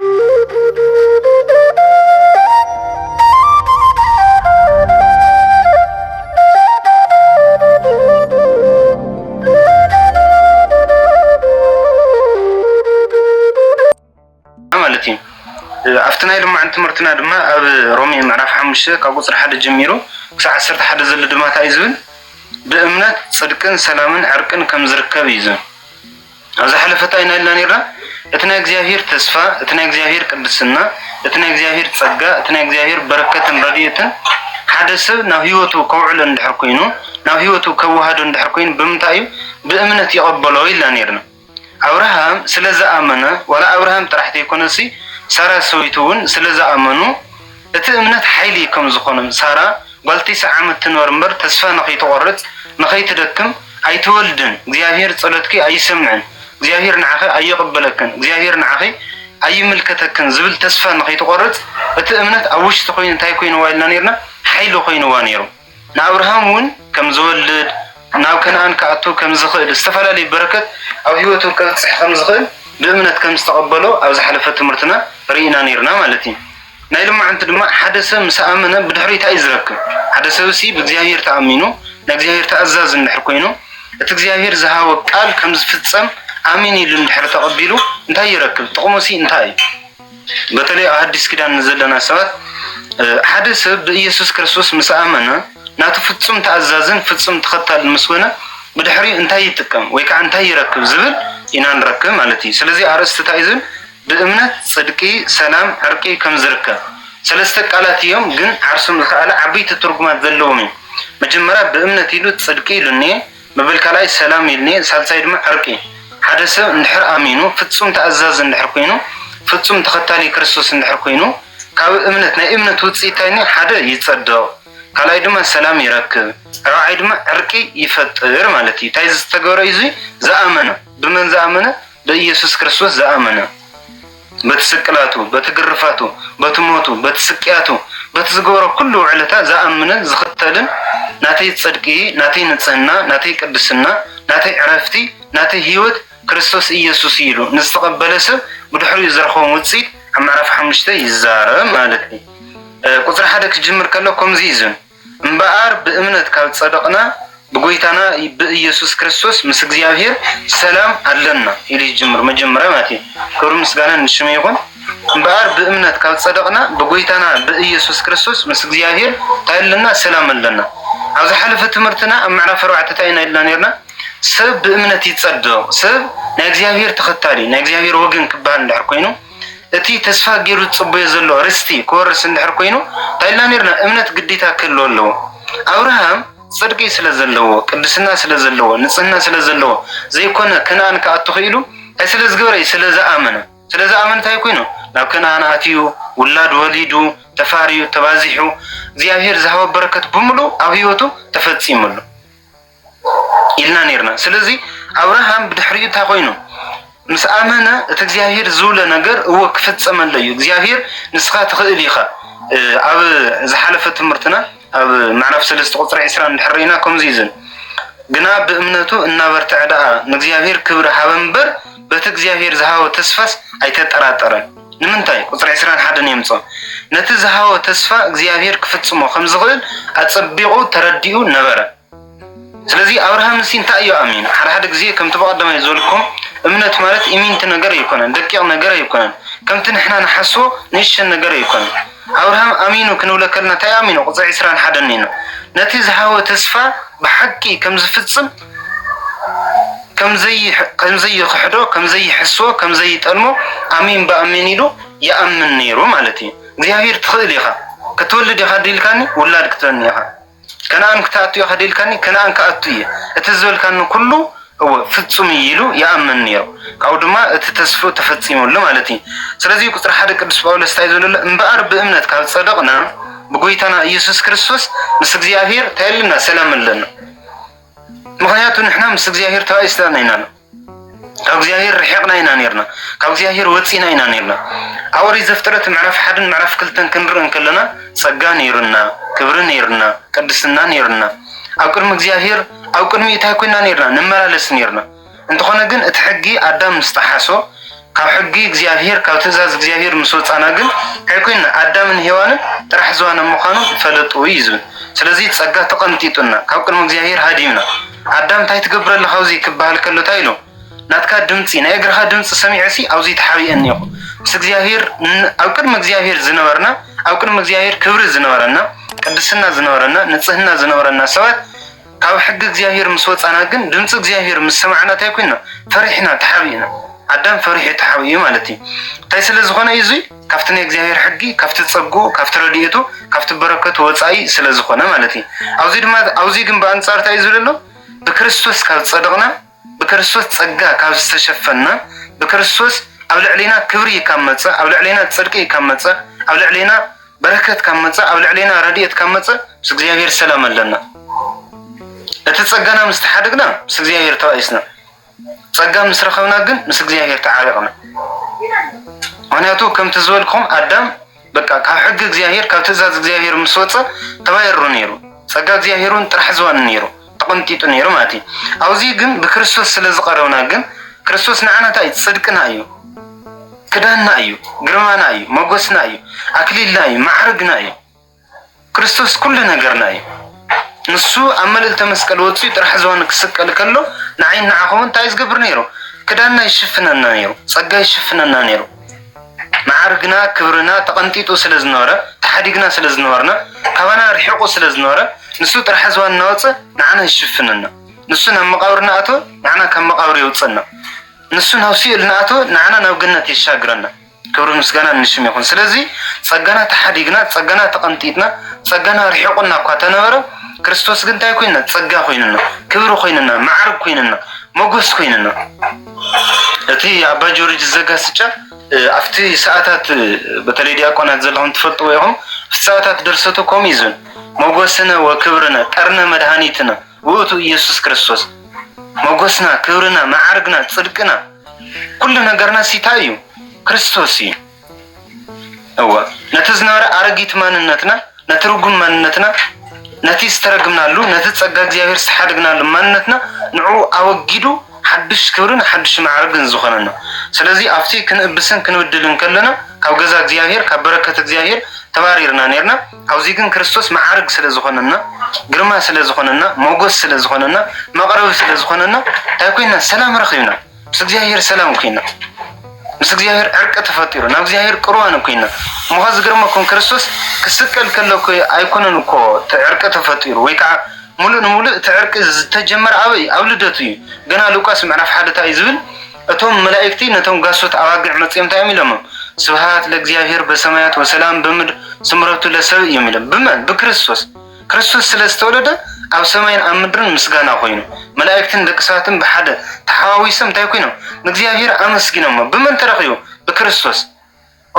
ማለት እዩ ኣብቲ ናይ ልማዕ ትምህርትና ድማ ኣብ ሮሜ ምዕራፍ ሓሙሽተ ካብ ቁፅሪ ሓደ ጀሚሩ ክሳብ ዓሰርተ ሓደ ዘሎ ድማ እንታይ እዩ ዝብል ብእምነት ፅድቅን ሰላምን ዕርቅን ከም ዝርከብ እዩ ዝብል ኣብ ዝሓለፈ እንታይ ኢና ኢልና ነርና? እቲ ናይ እግዚኣብሄር ተስፋ፣ እቲ ናይ እግዚኣብሄር ቅድስና፣ እቲ ናይ እግዚኣብሄር ጸጋ፣ እቲ ናይ እግዚኣብሄር በረከትን ረድኤትን ሓደ ሰብ ናብ ህይወቱ ከውዕሎ እንድሕር ኮይኑ ናብ ህይወቱ ከወሃዶ እንድሕር ኮይኑ ብምንታይ እዩ ብእምነት ይቐበሎ ኢልና ነርና። ኣብርሃም ስለ ዝኣመነ ዋላ ኣብርሃም ጥራሕ ዘይኮነሲ ሳራ ሰበይቱ እውን ስለ ዝኣመኑ እቲ እምነት ሓይሊ ከም ዝዀኖም፣ ሳራ ጓል ቲስዓ ዓመት ትንበር እምበር ተስፋ ንኸይትቖርጽ፣ ንኸይትደክም ኣይትወልድን፣ እግዚኣብሄር ጸሎትኪ ኣይሰምዕን፣ እግዚኣብሄር ንዓኺ ኣይቕበለክን፣ እግዚኣብሄር ንዓኺ ኣይምልከተክን ዝብል ተስፋ ንኸይትቖርጽ እቲ እምነት ኣብ ውሽጢ ኰይኑ እንታይ ኰይንዋ ኢልና ኔርና፣ ሓይሊ ኰይንዋ ኔሩ። ንኣብርሃም እውን ከም ዝወልድ፣ ናብ ከነኣን ክኣቱ ከም ዝኽእል፣ ዝተፈላለዩ በረከት ኣብ ህይወቱ ከብጽሕ ከም ዝኽእል ብእምነት ከም ዝተቐበሎ ኣብ ዝሓለፈ ትምህርትና ርኢና ነይርና ማለት እዩ። ናይ ሎማዕንቲ ድማ ሓደ ሰብ ምስ ኣመነ ብድሕሪኡ እንታይ እዩ ዝረክብ? ሓደ ሰብሲ ብእግዚኣብሔር ተኣሚኑ ናይ እግዚኣብሔር ተኣዛዚ እንድሕር ኮይኑ እቲ እግዚኣብሔር ዝሃቦ ቃል ከም ዝፍጸም ኣሚን ኢሉ እንድሕር ተቐቢሉ እንታይ ይረክብ? ጥቕሙሲ እንታይ እዩ? በተለይ ኣብ ሓዲስ ኪዳን ንዘለና ሰባት ሓደ ሰብ ብኢየሱስ ክርስቶስ ምስ ኣመነ ናቱ ፍጹም ተኣዛዝን ፍጹም ተኸታልን ምስ ኮነ ብድሕሪኡ እንታይ ይጥቀም ወይ ከዓ እንታይ ይረክብ ዝብል ኢና ንረክብ ማለት እዩ። ስለዚ ኣርእስቲ እንታይ እዩ ዝብል ብእምነት ጽድቂ፣ ሰላም፣ ዕርቂ ከም ዝርከብ ሰለስተ ቃላት እዮም ግን ዓርሶም ዝኸኣለ ዓበይቲ ትርጉማት ዘለዎም እዮም። መጀመርያ ብእምነት ኢሉ ጽድቂ ኢሉ እኒኤ። ምብል ካልኣይ ሰላም ኢልኒ ሳልሳይ ድማ ዕርቂ ሓደ ሰብ እንድሕር ኣሚኑ ፍጹም ተኣዛዚ እንድሕር ኮይኑ ፍጹም ተኸታሊ ክርስቶስ እንድሕር ኮይኑ ካብ እምነት ናይ እምነት ውጽኢት ታይ እኒ ሓደ ይጸድቕ ካልኣይ ድማ ሰላም ይረክብ ራብዓይ ድማ ዕርቂ ይፈጥር ማለት እዩ ታይ ዝተገብረ እዩ እዙይ ዝኣመነ ብመን ዝኣመነ ብኢየሱስ ክርስቶስ ዝኣመነ በቲ ስቅላቱ፣ በቲ ግርፋቱ፣ በቲ ሞቱ፣ በቲ ስቅያቱ፣ በቲ ዝገበሮ ኩሉ ውዕለታ ዝኣምንን ዝኽተልን ናተይ ጽድቂ፣ ናተይ ንጽህና፣ ናተይ ቅድስና፣ ናተይ ዕረፍቲ፣ ናተይ ሕይወት ክርስቶስ ኢየሱስ እዩ ኢሉ ንዝተቐበለ ሰብ ብድሕሪኡ ዝረኸቦም ውጽኢት ኣብ ምዕራፍ ሓሙሽተ ይዛረብ ማለት እዩ። ቁጽሪ ሓደ ክጅምር ከሎ ከምዚ እዩ ዝብል። እምበኣር ብእምነት ካብ ዝጸደቕና ብጐይታና ብኢየሱስ ክርስቶስ ምስ እግዚኣብሔር ሰላም ኣለና ኢሉ ይጅምር መጀመርያ ማለት እዩ ክብሪ ምስጋና ንሽሙ ይኹን እምበኣር ብእምነት ካብ ዝጸደቕና ብጐይታና ብኢየሱስ ክርስቶስ ምስ እግዚኣብሔር እንታይ ኣለና ሰላም ኣለና ኣብ ዝሓለፈ ትምህርትና ኣብ ምዕራፍ ኣርባዕተ እንታይ ኢና ኢልና ነርና ሰብ ብእምነት ይጸደቕ ሰብ ናይ እግዚኣብሔር ተኸታሊ ናይ እግዚኣብሔር ወገን ክበሃል እንድሕር ኮይኑ እቲ ተስፋ ጌሩ ዝጽበዮ ዘሎ ርስቲ ክወርስ እንድሕር ኮይኑ እንታይ ኢልና ኔርና እምነት ግዴታ ክህልዎ ኣለዎ። ኣብርሃም ጽድቂ ስለ ዘለዎ ቅድስና ስለ ዘለዎ ንጽህና ስለ ዘለዎ ዘይኮነ ከነኣን ክኣቱ ክኢሉ እንታይ ስለ ዝገበረ እዩ ስለ ዝኣመነ ስለ ዝኣመነ እንታይ ኮይኑ ናብ ከነኣን ኣትዩ ውላድ ወሊዱ ተፋርዩ ተባዚሑ እግዚኣብሔር ዝሃቦ በረከት ብምሉኡ ኣብ ህይወቱ ተፈጺሙ ኣሎ። ኢልና ኔርና። ስለዚ ኣብርሃም ብድሕሪኡ እንታይ ኮይኑ ምስ ኣመነ እቲ እግዚኣብሄር ዝብሎ ነገር እወ ክፍጸመለ እዩ። እግዚኣብሄር ንስኻ ትኽእል ኢኻ። ኣብ ዝሓለፈ ትምህርትና ኣብ ምዕራፍ ሰለስተ ቁፅሪ ዕስራ እንድሕር ርኢና ከምዚ እዩ ዝብል ግና ብእምነቱ እናበርትዐ ደኣ ንእግዚኣብሄር ክብሪ ሃበ እምበር በቲ እግዚኣብሄር ዝሃቦ ተስፋስ ኣይተጠራጠረን። ንምንታይ ቁፅሪ ዕስራን ሓደን የምፅኦ ነቲ ዝሃቦ ተስፋ እግዚኣብሄር ክፍጽሞ ከም ዝኽእል ኣጸቢቑ ተረዲኡ ነበረ። ስለዚ ኣብርሃም እሲ እንታይ እዩ ኣሚኑ ሓደ ሓደ ግዜ ከምቲ ብቀዳማይ ዝበልኩም እምነት ማለት ኢሚንቲ ነገር ኣይኮነን ደቂቅ ነገር ኣይኮነን ከምቲ ንሕና ንሓስቦ ንእሽተን ነገር ኣይኮነን ኣብርሃም ኣሚኑ ክንብለ ከለና እንታይ እዩ ኣሚኑ ቁፅሪ ዕስራን ሓደን እዩ ነቲ ዝሃቦ ተስፋ ብሓቂ ከምዝፍፅም ከምዘይክሕዶ ከምዘይሕስቦ ከምዘይጠልሞ ኣሚን ብኣሚን ኢሉ ይኣምን ነይሩ ማለት እዩ እግዚኣብሔር ትኽእል ኢኻ ክትወልድ ኢኻ ድኢልካኒ ውላድ ክትበኒ ኢኻ ከነኣን ክትኣቱ ኢኻ ዶ ኢልካኒ፣ ከነኣን ክኣቱ እየ፣ እቲ ዝበልካኒ ኵሉ እወ ፍጹም እዩ ኢሉ ይኣምን ነይሩ። ካብኡ ድማ እቲ ተስፍኡ ተፈጺሙሉ ማለት እዩ። ስለዚ ቁጽሪ ሓደ ቅዱስ ጳውሎስ እንታይ እዩ ዝብሎ ዘሎ፣ እምበኣር ብእምነት ካብ ጸደቕና ብጐይታና ኢየሱስ ክርስቶስ ምስ እግዚኣብሔር እንታይ ኣለና ሰላም ኣለና። ምኽንያቱ ንሕና ምስ እግዚኣብሔር ተባኢስና ኢና። ካብ እግዚኣብሔር ርሒቕና ኢና ኔርና፣ ካብ እግዚኣብሔር ወጺእና ኢና ኔርና። ኣብ ኦሪት ዘፍጥረት ምዕራፍ ሓደን ምዕራፍ ክልተን ክንርኢ እንከለና ጸጋ ነይሩና፣ ክብሪ ነይሩና፣ ቅድስና ነይሩና፣ ኣብ ቅድሚ እግዚኣብሔር ኣብ ቅድሚኡ እንታይ ኮይና ኔርና ንመላለስ ኔርና። እንተኾነ ግን እቲ ሕጊ ኣዳም ምስ ጠሓሶ ካብ ሕጊ እግዚኣብሄር ካብ ትእዛዝ እግዚኣብሄር ምስ ወጻና ግን ታይ ኮይንና ኣዳምን ሄዋንን ጥራሕ ዝዋነ ምዃኖም ፈለጡ እዩ ዝብል ስለዚ ጸጋ ተቀንጢጡና ካብ ቅድሚ እግዚኣብሄር ሃዲምና ኣዳም ታይ ትገብር ኣለኻ ኣብዙይ ክበሃል ከሎ ታይ ኢሉ ናትካ ድምጺ ናይ እግርኻ ድምጺ ሰሚዐሲ ኣብዙይ ተሓቢኤ እኒኦኹ ምስ እግዚኣብሄር ኣብ ቅድሚ እግዚኣብሄር ዝነበርና ኣብ ቅድሚ እግዚኣብሄር ክብሪ ዝነበረና ቅድስና ዝነበረና ንጽህና ዝነበረና ሰባት ካብ ሕጊ እግዚኣብሄር ምስ ወጻና ግን ድምጺ እግዚኣብሄር ምስ ሰማዕና እንታይ ኮይና? ፈሪሕና ተሓቢእና። ኣዳም ፈሪሑ ተሓቢኡ ማለት እዩ። እንታይ ስለ ዝኾነ እዩ እዚ? ካብቲ ናይ እግዚኣብሄር ሕጊ፣ ካብቲ ጸግኡ፣ ካብቲ ረድኤቱ፣ ካብቲ በረከቱ ወጻኢ ስለ ዝኾነ ማለት እዩ። ኣብዚ ድማ ኣብዚ ግን ብኣንጻር እንታይ እዩ ዝብል ዘሎ? ብክርስቶስ ካብ ዝጸደቕና፣ ብክርስቶስ ጸጋ ካብ ዝተሸፈንና፣ ብክርስቶስ ኣብ ልዕሌና ክብሪ ካብ መጸ፣ ኣብ ልዕሌና ጽድቂ ካብ መጸ፣ ኣብ ልዕሌና በረከት ካብ መጸ፣ ኣብ ልዕሌና ረድኤት ካብ መጸ፣ ምስ እግዚኣብሔር ሰላም ኣለና። እቲ ጸጋና ምስ ተሓደግና ምስ እግዚኣብሔር ተባኢስና፣ ጸጋ ምስ ረኸብና ግን ምስ እግዚኣብሔር ተዓሪቕና። ምክንያቱ ከምቲ ዝበልኩም ኣዳም በቃ ካብ ሕጊ እግዚኣብሔር ካብ ትእዛዝ እግዚኣብሔር ምስ ወጸ ተባይሩ ነይሩ ጸጋ እግዚኣብሔር እውን ጥራሕ ዝዋኒ ነይሩ ተቐንጢጡ ነይሩ ማለት እዩ ኣብዚ ግን ብክርስቶስ ስለ ዝቐረብና ግን ክርስቶስ ንዓና እንታይ እዩ ጽድቅና እዩ ክዳንና እዩ ግርማና እዩ መጎስና እዩ ኣክሊልና እዩ ማዕርግና እዩ ክርስቶስ ኩሉ ነገርና እዩ ንሱ ኣብ መልእልተ መስቀል ወጺኡ ጥራሕ ዝባኑ ክስቀል ከሎ ንዓይን ንዓኹምን እንታይ ዝገብር ነይሩ ክዳንና ይሽፍነና ነይሩ ጸጋ ይሽፍነና ነይሩ መዓርግና ክብርና ተቐንጢጡ ስለ ዝነበረ ተሓዲግና ስለ ዝነበርና ካባና ርሒቑ ስለ ዝነበረ ንሱ ጥራሕ ዝባን እናወጸ ንዓና ይሽፍነና ንሱ ናብ መቃብር እናኣተወ ንዓና ካብ መቃብር የውጽእና ንሱ ናብ ሲኦል እናኣተወ ንዓና ናብ ገነት የሻግረና ክብርን ምስጋናን ንሽም ይኹን። ስለዚ ጸጋና ተሓዲግና፣ ጸጋና ተቐንጢጥና፣ ጸጋና ርሒቑና እኳ ተነበረ፣ ክርስቶስ ግን እንታይ ኮይንና? ጸጋ ኮይንና፣ ክብሪ ኮይንና፣ መዓርግ ኮይንና፣ መጎስ ኮይንና። እቲ ኣባ ጆርጅ ዘጋስጫ ኣብቲ ሰዓታት በተለይ ዲያቆናት ዘለኹም ትፈልጥዎ ኢኹም፣ ኣብቲ ሰዓታት ደርሰቱ ከምኡ እዩ ዝብል መጎስነ ወክብርነ ቀርነ መድሃኒትነ ውእቱ ኢየሱስ ክርስቶስ መጎስና፣ ክብርና፣ መዓርግና፣ ጽድቅና ኩሉ ነገርናስ እንታይ እዩ? ክርስቶስ እዩ። እወ፣ ነቲ ዝነበረ ኣረጊት ማንነትና፣ ነቲ ርጉም ማንነትና፣ ነቲ ዝተረግምናሉ፣ ነቲ ጸጋ እግዚኣብሔር ዝተሓደግናሉ ማንነትና ንዕኡ ኣወጊዱ ሓድሽ ክብርን ሓድሽ ማዕርግን ዝኾነና። ስለዚ ኣብቲ ክንእብስን ክንብድልን ከለና ካብ ገዛ እግዚኣብሔር ካብ በረከት እግዚኣብሔር ተባሪርና ኔርና። ኣብዚ ግን ክርስቶስ መዓርግ ስለ ዝኾነና፣ ግርማ ስለ ዝኾነና፣ ሞጎስ ስለ ዝኾነና፣ መቕረቢ ስለ ዝኾነና እንታይ ኮይና ሰላም ረኺብና ምስ እግዚኣብሄር ሰላም ኮይና ምስ እግዚኣብሄር ዕርቂ ተፈጢሩ ናብ እግዚኣብሄር ቅርዋን ኮይና እሞ ኸ ዝገርመኩም ክርስቶስ ክስቀል ከሎ ኣይኮነን እኮ እቲ ዕርቂ ተፈጢሩ ወይ ከዓ ሙሉእ ንሙሉእ እቲ ዕርቂ ዝተጀመረ ኣበይ ኣብ ልደቱ እዩ ገና ሉቃስ ምዕራፍ ሓደ እንታይ እዩ ዝብል እቶም መላኢክቲ ነቶም ጋሶት ኣባግዕ መጺኦም እንታይ እዮም ኢሎምም? ስብሃት ለእግዚኣብሔር በሰማያት ወሰላም በምድር ስምረቱ ለሰብእ እዮም ኢሎም። ብመን? ብክርስቶስ። ክርስቶስ ስለ ዝተወለደ ኣብ ሰማይን ኣብ ምድርን ምስጋና ኮይኑ። መላኢክትን ደቂ ሰባትን ብሓደ ተሓዋዊሶም እንታይ ኮይኖም? ንእግዚኣብሔር ኣመስጊኖሞ። ብመን ተረኺቡ? ብክርስቶስ።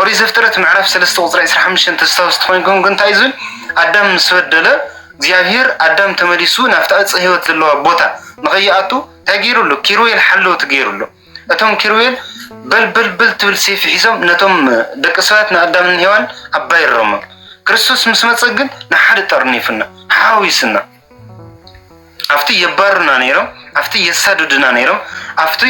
ኦሪት ዘፍጥረት ምዕራፍ ሰለስተ ቁፅሪ ዕስራ ሓሙሽተ እንተስታውስ ተኮይንኩም ግን እንታይ ዝብል ኣዳም ምስ በደለ እግዚኣብሄር ኣዳም ተመሊሱ ናብቲ ዕፀ ህይወት ዘለዋ ቦታ ንኸይኣቱ እንታይ ገይሩሉ ኪሩቤል ሓለውቲ ገይሩሉ እቶም ኪሩቤል በልበልበል ትብል ሴፊ ሒዞም ነቶም ደቂ ሰባት ንኣዳምን ሄዋን ኣባይሮሞም ክርስቶስ ምስ መፀ ግን ንሓደ ጠርኒፉና ሓዊስና ኣብቲ የባሩና ነይሮም፣ ኣብቲ የሳድዱና ነይሮም፣ ኣብቲ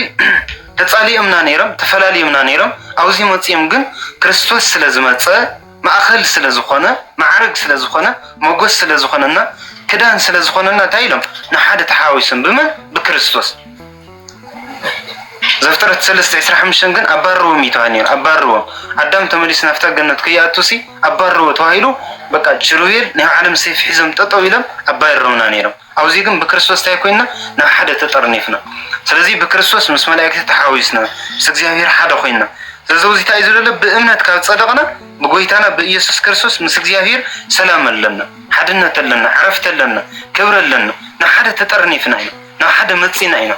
ተጻሊኦምና ነይሮም፣ ተፈላልዮምና ነይሮም። ኣብዚ መጺኦም ግን ክርስቶስ ስለ ዝመጸ ማእከል ስለ ዝኾነ ማዕርግ ስለ ዝኾነ ሞጎስ ስለ ዝኾነና ክዳን ስለ ዝኾነና እንታይ ኢሎም ንሓደ ተሓዋዊሶም ብመን ብክርስቶስ ዘፍጥረት ሰለስተ ዕስራ ሓሙሽተን ግን ኣባርዎም እዩ ተባሂሉ ነይሩ። ኣባርዎም ኣዳም ተመሊሱ ናብታ ገነት ከይኣቱሲ ኣባርዎ ተባሂሉ በቃ ችሩቤል ናይ ባዕሎም ሰይፊ ሒዞም ጠጠው ኢሎም ኣባሪሮምና ነይሮም። ኣብዚ ግን ብክርስቶስ እንታይ ኮይንና ናብ ሓደ ተጠርኒፍና። ስለዚ ብክርስቶስ ምስ መላእክቲ ተሓዊስና ምስ እግዚኣብሔር ሓደ ኮይንና። ስለዚ እዚ እንታይ እዩ ዝብለለ ብእምነት ካብ ጸደቕና ብጎይታና ብኢየሱስ ክርስቶስ ምስ እግዚኣብሔር ሰላም ኣለና፣ ሓድነት ኣለና፣ ዕረፍቲ ኣለና፣ ክብሪ ኣለና። ናብ ሓደ ተጠርኒፍና ኢና። ናብ ሓደ መጺእና ኢና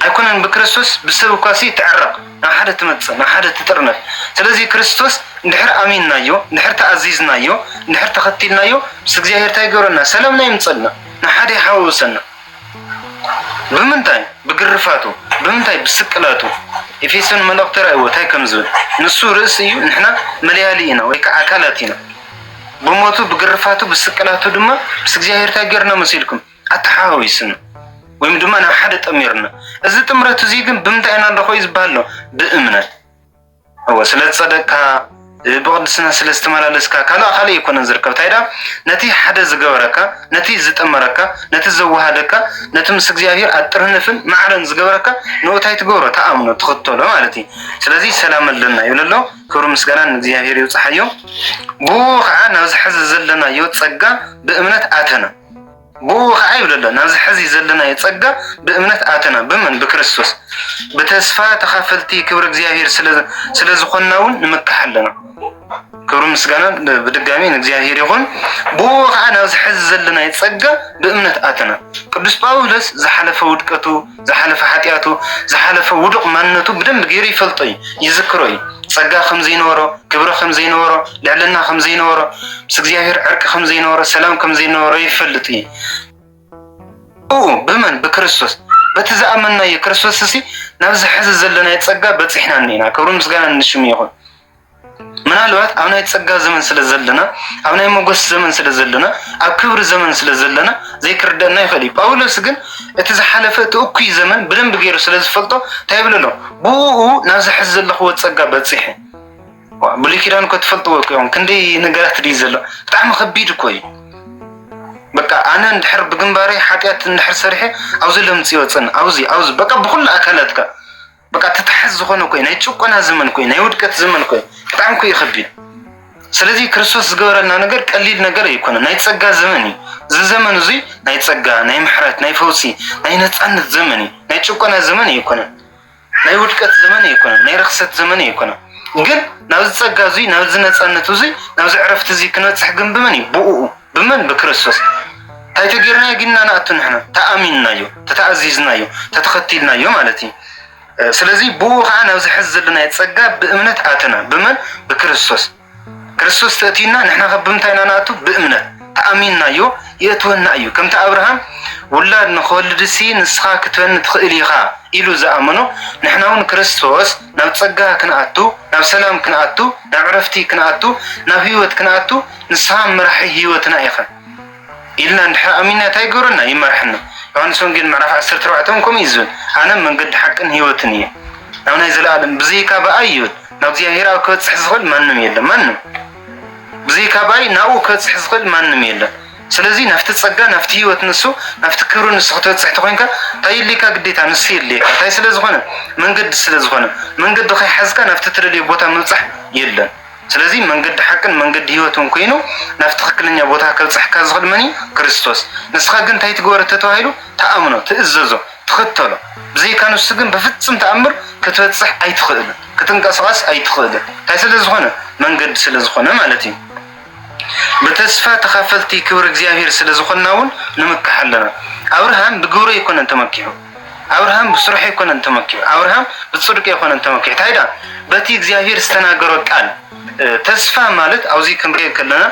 ኣይኮነን ብክርስቶስ ብሰብ እኳሲ ትዕረቅ ናብ ሓደ ትመጽእ ናብ ሓደ ትጥርነፍ ስለዚ ክርስቶስ እንድሕር ኣሚንናዮ እንድሕር ተኣዚዝናዮ እንድሕር ተኸቲልናዮ ምስ እግዚኣብሄር ታይ ይገብረና ሰላምና የምጸልና ናብ ሓደ ይሓዋውሰና ብምንታይ ብግርፋቱ ብምንታይ ብስቅላቱ ኤፌሶን መልእኽቲ ራእይዎ ታይ ከም ዝብል ንሱ ርእሲ እዩ ንሕና መለያሊ ኢና ወይ ከዓ ኣካላት ኢና ብሞቱ ብግርፋቱ ብስቅላቱ ድማ ምስ እግዚኣብሄር ታይ ገርና መሲልኩም ኣተሓዋዊስና ወይም ድማ ናብ ሓደ ጠሚርና እዚ ጥምረት እዙይ ግን ብምንታይ ኢና ንረኽቦ እዩ ዝበሃል ኣሎ ብእምነት እወ ስለ ዝፀደቅካ ብቅድስና ስለ ዝተመላለስካ ካልእ ካልእ ኣይኮነን ዝርከብ እንታይ ዳ ነቲ ሓደ ዝገበረካ ነቲ ዝጠመረካ ነቲ ዘወሃደካ ነቲ ምስ እግዚኣብሔር ኣጥርንፍን ማዕረን ዝገበረካ ንኡ እንታይ ትገብሮ ተኣምኖ ትኽተሎ ማለት እዩ ስለዚ ሰላም ኣለና ይብል ኣሎ ክብሪ ምስጋና ንእግዚኣብሔር ይብፅሓዮ ብኡ ከዓ ናብዚ ሕዚ ዘለናዮ ፀጋ ብእምነት ኣተና ብእኡ ኸኣ ይብል ኣሎ፣ ናብዚ ሐዚ ዘለናዮ ጸጋ ብእምነት ኣተና፣ ብመን? ብክርስቶስ። ብተስፋ ተኻፈልቲ ክብሪ እግዚኣብሔር ስለ ዝኾንናውን ንምካሕ ኣሎና። ክብርን ምስጋናን ብድጋሚ ንእግዚኣብሔር ይኹን። ብእኡ ኸኣ ናብዚ ሐዚ ዘለናዮ ጸጋ ብእምነት ኣተና። ቅዱስ ጳውሎስ ዝሓለፈ ውድቀቱ ዝሓለፈ ሓጢኣቱ፣ ዝሓለፈ ውዱቕ ማንነቱ ብደንቢ ገይሩ ይፈልጦ እዩ፣ ይዝክሮ እዩ። ጸጋ ከም ዘይነበሮ፣ ክብሪ ከም ዘይነበሮ፣ ልዕልና ከም ዘይነበሮ፣ ምስ እግዚኣብሔር ዕርቂ ከም ዘይነበሮ፣ ሰላም ከም ዘይነበሮ ይፈልጥ እዩ። ብኡ ብመን ብክርስቶስ በቲ ዝኣመንናዮ ክርስቶስ እሲ ናብዚ ሕዚ ዘለናዮ ጸጋ በጺሕና እኒና። ክብሪ ምስጋና ንሽሙ ይኹን። ምናልባት ኣብ ናይ ጸጋ ዘመን ስለ ዘለና ኣብ ናይ መጎስ ዘመን ስለ ዘለና ኣብ ክብሪ ዘመን ስለ ዘለና ዘይክርደና ይኽእል እዩ ጳውሎስ ግን እቲ ዝሓለፈ እቲ እኩይ ዘመን ብደንብ ገይሩ ስለ ዝፈልጦ እንታይ ይብሎ ኣሎ ብኡ ናብ ዝሕዝ ዘለኽዎ ጸጋ በጺሐ ብሉይ ኪዳን እኮ ትፈልጥዎ እኮ እዮም ክንደይ ነገራት ድዩ ዘሎ ብጣዕሚ ከቢድ እኮ እዩ በቃ ኣነ እንድሕር ብግንባረይ ሓጢኣት እንድሕር ሰሪሐ ኣብዚ ለምጽ ይወፅን ኣብዚ ኣብዚ በቃ ብኩሉ ኣካላትካ በቃ ተታሓዝ ዝኾነ ኮይ ናይ ጭቆና ዘመን ኮይ ናይ ውድቀት ዘመን ኮይ ብጣዕሚ ኮይ ይኸቢድ ስለዚ ክርስቶስ ዝገበረልና ነገር ቀሊል ነገር ኣይኮነ ናይ ፀጋ ዘመን እዩ እዚ ዘመን እዙይ ናይ ፀጋ ናይ ምሕረት ናይ ፈውሲ ናይ ነፃነት ዘመን እዩ ናይ ጭቆና ዘመን ኣይኮነ ናይ ውድቀት ዘመን ኣይኮነ ናይ ርክሰት ዘመን ኣይኮነ ግን ናብዚ ፀጋ እዙይ ናብዚ ነፃነት እዙይ ናብዚ ዕረፍቲ እዙይ ክነፅሕ ግን ብመን እዩ ብኡ ብመን ብክርስቶስ ታይ ተጌርናዮ ግን ኢና ንኣቱ ንሕና ተኣሚንናዮ ተተኣዚዝናዮ ተተኸቲልናዮ ማለት እዩ ስለዚ ብኡ ከዓ ናብዚ ሕዚ ዘለናዮ ፀጋ ብእምነት ኣተና ብመን ብክርስቶስ ክርስቶስ ተእትዩና ንሕና ከ ብምንታይ ኢና ንኣቱ ብእምነት ተኣሚንናዮ የእትወና እዩ ከምቲ ኣብርሃም ውላድ ንክወልድሲ ንስኻ ክትበኒ ትኽእል ኢኻ ኢሉ ዝኣመኖ ንሕና እውን ክርስቶስ ናብ ፀጋ ክንኣቱ ናብ ሰላም ክንኣቱ ናብ ዕረፍቲ ክንኣቱ ናብ ህይወት ክንኣቱ ንስኻ መራሒ ህይወትና ኢኻ ኢልና እንድሕር ኣሚንና እንታይ ይገብረና? ይመርሐና። ዮሃንስ ወንጌል ምዕራፍ 14 እውን ከምኡ እዩ ዝብል፣ ኣነ መንገዲ ሓቅን ህይወትን እየ ናብ ናይ ዘለኣለም ብዘይካ ብኣይ ይብል ናብ እግዚኣብሔር ኣብ ክበፅሕ ዝኽእል ማንም የለን ማንም ብዘይካ ብኣይ ናብኡ ክበፅሕ ዝኽእል ማንም የለን። ስለዚ ናብቲ ፀጋ ናብቲ ህይወት ንሱ ናብቲ ክብሪ ንሱ ክትበፅሕ ተኮይንካ እንታይ የድልየካ? ግዴታ ንሱ የድልየካ። እንታይ ስለዝኾነ? መንገዲ ስለዝኾነ መንገዲ ከይሓዝካ ናብቲ ትደልዮ ቦታ ምብፃሕ የለን። ስለዚ መንገዲ ሓቅን መንገዲ ህይወትን ኮይኑ ናብቲ ትክክለኛ ቦታ ከብጽሕካ ዝኽእል መን እዩ? ክርስቶስ። ንስኻ ግን እንታይ ትግበር እተተባሂሉ? ትኣምኖ፣ ትእዘዞ፣ ትኽተሎ። ብዘይካ ንሱ ግን ብፍጽም ተኣምር ክትበጽሕ ኣይትኽእልን፣ ክትንቀስቓስ ኣይትኽእልን። እንታይ ስለ ዝኾነ? መንገዲ ስለ ዝኾነ ማለት እዩ። ብተስፋ ተኻፈልቲ ክብሪ እግዚኣብሔር ስለ ዝኾንና እውን ንምካሕ ኣለና። ኣብርሃም ብግብሩ ኣይኮነን ተመኪሑ። ኣብርሃም ብስርሑ ኣይኮነን ተመኪዑ ኣብርሃም ብጽድቁ ኣይኮነን ተመኪዑ እንታይ ዳ በቲ እግዚኣብሔር ዝተናገሮ ቃል ተስፋ ማለት ኣብዚ ክንሪኦ ከለና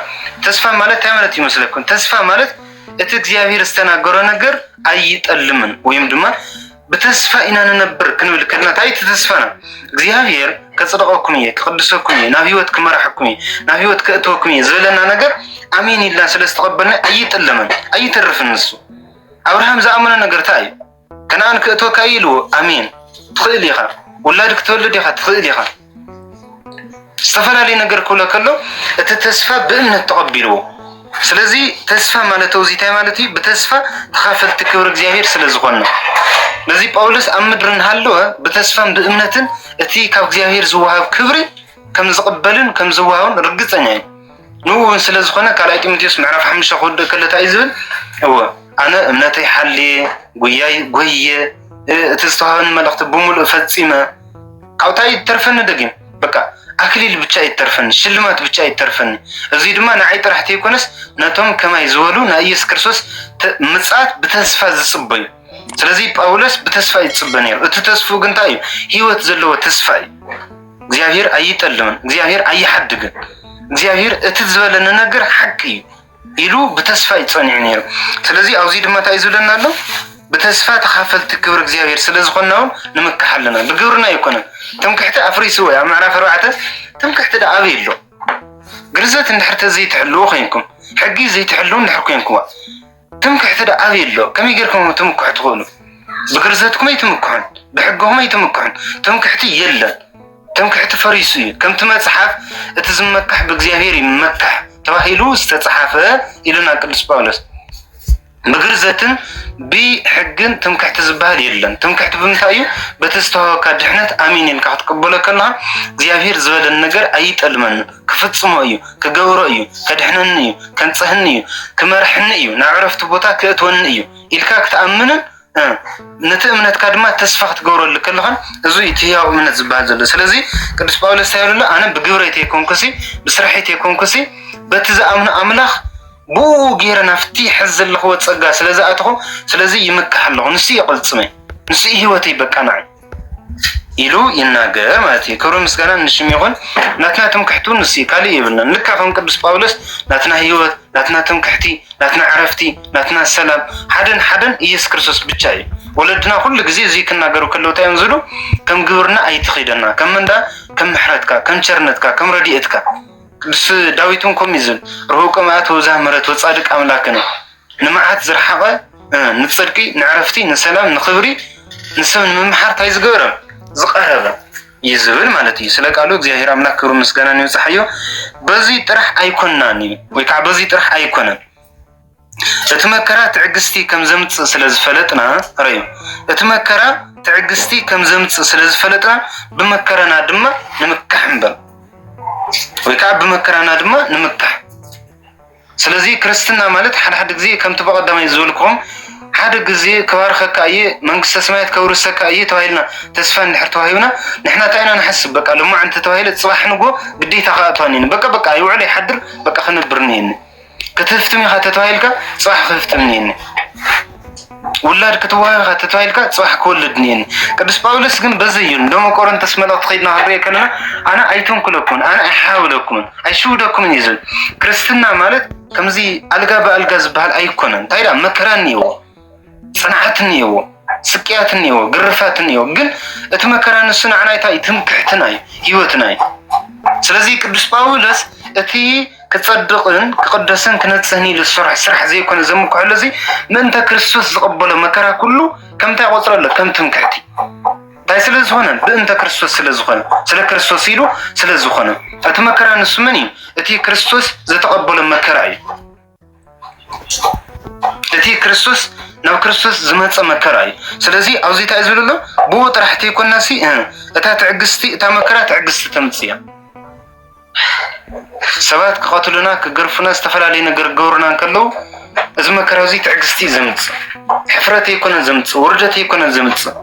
ተስፋ ማለት እንታይ ማለት ይመስለኩም? ተስፋ ማለት እቲ እግዚኣብሔር ዝተናገሮ ነገር ኣይጠልምን ወይም ድማ ብተስፋ ኢና ንነብር ክንብል ከለና እንታይ እቲ ተስፋና እግዚኣብሔር ከጽድቀኩም እየ ክቅድሰኩም እየ ናብ ህይወት ክመራሐኩም እየ ናብ ህይወት ከእትወኩም እየ ዝበለና ነገር ኣሜን ኢልና ስለ ዝተቀበልና ኣይጥለምን ኣይተርፍን ንሱ ኣብርሃም ዝኣመኖ ነገር ታይ እዩ? ከነኣን ክእትወካ እዩ ኢልዎ። ኣሜን ትኽእል ኢኻ፣ ውላድ ክትወልድ ኢኻ፣ ትኽእል ኢኻ ዝተፈላለዩ ነገር ክብሎ ከሎ እቲ ተስፋ ብእምነት ተቐቢልዎ። ስለዚ ተስፋ ማለት እዚ ታይ ማለት እዩ? ብተስፋ ተኻፈልቲ ክብሪ እግዚኣብሔር ስለ ዝኾነ ነዚ ጳውሎስ ኣብ ምድሪ እናሃለወ ብተስፋን ብእምነትን እቲ ካብ እግዚኣብሔር ዝወሃብ ክብሪ ከም ዝቕበልን ከም ዝዋሃብን ርግፀኛ እዩ ንኡ እውን ስለ ዝኾነ ካልኣይ ጢሞቴዎስ ምዕራፍ ሓሙሽተ ክወድእ ከሎ እንታይ እዩ ዝብል እወ ኣነ እምነተይ ሓልየ ጉያይ ጎየ እቲ ዝተዋህበኒ መልእኽቲ ብምሉእ ፈፂመ ካብታ ይተርፈኒ ደጊም በቃ ኣክሊል ብቻ ይተርፈኒ ሽልማት ብቻ ይተርፈኒ እዚ ድማ ንዓይ ጥራሕ ተይኮነስ ነቶም ከማይ ዝበሉ ናይ ኢየሱስ ክርስቶስ ምጽኣት ብተስፋ ዝጽበዩ ስለዚ ጳውሎስ ብተስፋ ይጽበ ነይሩ እቲ ተስፉ ግን እንታይ እዩ ህይወት ዘለዎ ተስፋ እዩ እግዚኣብሔር ኣይጠልምን፣ እግዚኣብሔር ኣይሓድግን፣ እግዚኣብሔር እቲ ዝበለ ንነገር ሓቂ እዩ ኢሉ ብተስፋ እዩ ጸኒዑ ነይሩ። ስለዚ ኣብዚ ድማ እንታይ እዩ ዝብለና ኣሎ? ብተስፋ ተኻፈልቲ ክብሪ እግዚኣብሔር ስለ ዝኾንና እውን ንምካሕ ኣለና። ብግብርና ኣይኮነን። ትምክሕቲ ኣፍሪሱ ወይ ኣብ ምዕራፍ ኣርባዕተ ትምክሕቲ ዳ ኣበይ ኣሎ? ግርዘት እንድሕር ተዘይትሕልዉ ኮይንኩም ሕጊ ዘይትሕልዉ እንድሕር ኮይንኩምዋ ትምክሕቲ ዶ ኣበይ ኣሎ? ከመይ ጌርኩም ክትምክሑ ትኽእሉ? ብግርዘትኩም ኣይትምክሑን፣ ብሕግኹም ኣይትምክሑን። ትምክሕቲ የለን። ትምክሕቲ ፈሪሱ እዩ። ከምቲ መጽሓፍ እቲ ዝመካሕ ብእግዚኣብሔር ይመካሕ ተባሂሉ ዝተጽሓፈ ኢሉና ቅዱስ ጳውሎስ ብግርዘትን ብሕግን ትምክሕቲ ዝበሃል የለን። ትምክሕቲ ብምንታይ እዩ? በቲ ዝተዋህበካ ድሕነት ኣሚን ኢልካ ክትቅበሎ ከለኻ እግዚኣብሔር ዝበለን ነገር ኣይጠልመን። ክፍጽሞ እዩ፣ ክገብሮ እዩ፣ ከድሕነኒ እዩ፣ ከንጽህኒ እዩ፣ ክመርሕኒ እዩ፣ ናብ ዕረፍቲ ቦታ ክእትወኒ እዩ ኢልካ ክትኣምንን ነቲ እምነትካ ድማ ተስፋ ክትገብረሉ ከለኻን እዚ እቲ ህያው እምነት ዝበሃል ዘሎ ስለዚ ቅዱስ ጳውሎስ እንታይ ይብለሎ ኣነ ብግብረይ ተይኮንኩሲ ብስርሐይ ተይኮንኩሲ በቲ ዝኣምኑ ኣምላኽ ብኡ ገይረ ናብቲ ሕዚ ዘለኽዎ ጸጋ ስለ ዝኣተኹ ስለዚ ይምካሕ ኣለኹ ንሱ የቐልጽመይ ንሱ ህይወተይ በቃ ንዓይ ኢሉ ይናገር ማለት እዩ። ክብርን ምስጋናን ንሽም ይኹን። ናትና ትምክሕቱ ንሱ እዩ፣ ካልእ የብልናን። ልካ ከም ቅዱስ ጳውሎስ ናትና ህይወት፣ ናትና ትምክሕቲ፣ ናትና ዕረፍቲ፣ ናትና ሰላም ሓደን ሓደን ኢየሱስ ክርስቶስ ብቻ እዩ። ወለድና ኩሉ ግዜ እዙይ ክናገሩ ከለዉ እንታይ እዮም ዝብሉ? ከም ግብርና ኣይትኺደና፣ ከም እንዳ ከም ምሕረትካ፣ ከም ቸርነትካ፣ ከም ረድኤትካ። ቅዱስ ዳዊት እውን ከምኡ እዩ ዝብል፣ ርሁቅ መዓት ወብዝሃ ምሕረት ወጻድቅ ኣምላክነ ንመዓት ዝረሓቐ ንፅድቂ ንዕረፍቲ ንሰላም ንክብሪ ንሰብ ንምምሓር እንታይ ዝገበረ ዝቐረበ እዩ ዝብል ማለት እዩ። ስለ ቃሉ እግዚኣብሔር ኣምላክ ክብሩ ምስጋናን ይብጽሓዮ። በዚ ጥራሕ ኣይኮናን እዩ ወይ ከዓ በዚ ጥራሕ ኣይኮነን እቲ መከራ ትዕግስቲ ከም ዘምጽእ ስለ ዝፈለጥና ረዩ እቲ መከራ ትዕግስቲ ከም ዘምጽእ ስለ ዝፈለጥና ብመከራና ድማ ንምካሕ እምበር ወይ ከዓ ብመከራና ድማ ንምካሕ ስለዚ ክርስትና ማለት ሓደ ሓደ ግዜ ከምቲ ብቀዳማይ ዝበልክዎም ሓደ ግዜ ክባርኸካ እየ መንግስተ ሰማያት ከውርሰካ እየ ተባሂልና ተስፋ እንድሕር ተዋሂብና ንሕና እንታይ ኢና ንሓስብ በቃ ልማዕ እንተተባሂለ ጽባሕ ንጎ ግዴታ ክኣትዋ እኒኒ በቃ በቃ ይውዕል ይሓድር በቃ ክነብር እኒኒ ክትህፍትም ኢኻ ተተባሂልካ ጽባሕ ክህፍትም እኒኒ ውላድ ክትወሃብ ኢኻ ተታይልካ ፅባሕ ክወልድ እኒኤኒ ቅዱስ ጳውሎስ ግን በዚ እዩ ሎሚ ቆሮንቶስ መልእኽቲ ከይድና ክንሪኦ ከለና ኣነ ኣይተንኩለኩምን ኣነ ኣይሓብለኩምን ኣይሽውደኩምን እዩ ዝብል ክርስትና ማለት ከምዚ ኣልጋ ብኣልጋ ዝበሃል ኣይኮነን እንታይ ዳ መከራ እኒኤዎ ፅንዓት እኒኤዎ ስቅያት እኒኤዎ ግርፋት እኒኤዎ ግን እቲ መከራ ንሱ ንዓና እንታይ ትምክሕትና እዩ ህይወትና እዩ ስለዚ ቅዱስ ጳውሎስ እቲ ክጸድቕን ክቕደስን ክነጽህን ኢሉ ዝሰርሖ ስራሕ ዘይኮነ ዘምክሐሉ እዚ ምእንተ ክርስቶስ ዝቐበሎ መከራ ኩሉ ከምታይ ቆጽረ ኣሎ ከም ትምክሕቲ እንታይ ስለ ዝኾነ ብእንተ ክርስቶስ ስለ ዝኾነ ስለ ክርስቶስ ኢሉ ስለ ዝኾነ እቲ መከራ ንሱ መን እዩ? እቲ ክርስቶስ ዝተቐበሎ መከራ እዩ። እቲ ክርስቶስ ናብ ክርስቶስ ዝመፀ መከራ እዩ። ስለዚ ኣብዚ እንታይ ዝብል ኣሎ ብኡ ጥራሕ ተይኮናሲ እታ ትዕግስቲ እታ መከራ ትዕግስቲ ተምፅእ እያ። ሰባት ክቐትሉና ክገርፉና ዝተፈላለዩ ነገር ክገብሩና እንከለዉ እዚ መከራ እዚ ትዕግስቲ እዩ ዘምፅእ ሕፍረት ኣይኮነን ዘምፅእ ውርደት ኣይኮነን ዘምፅእ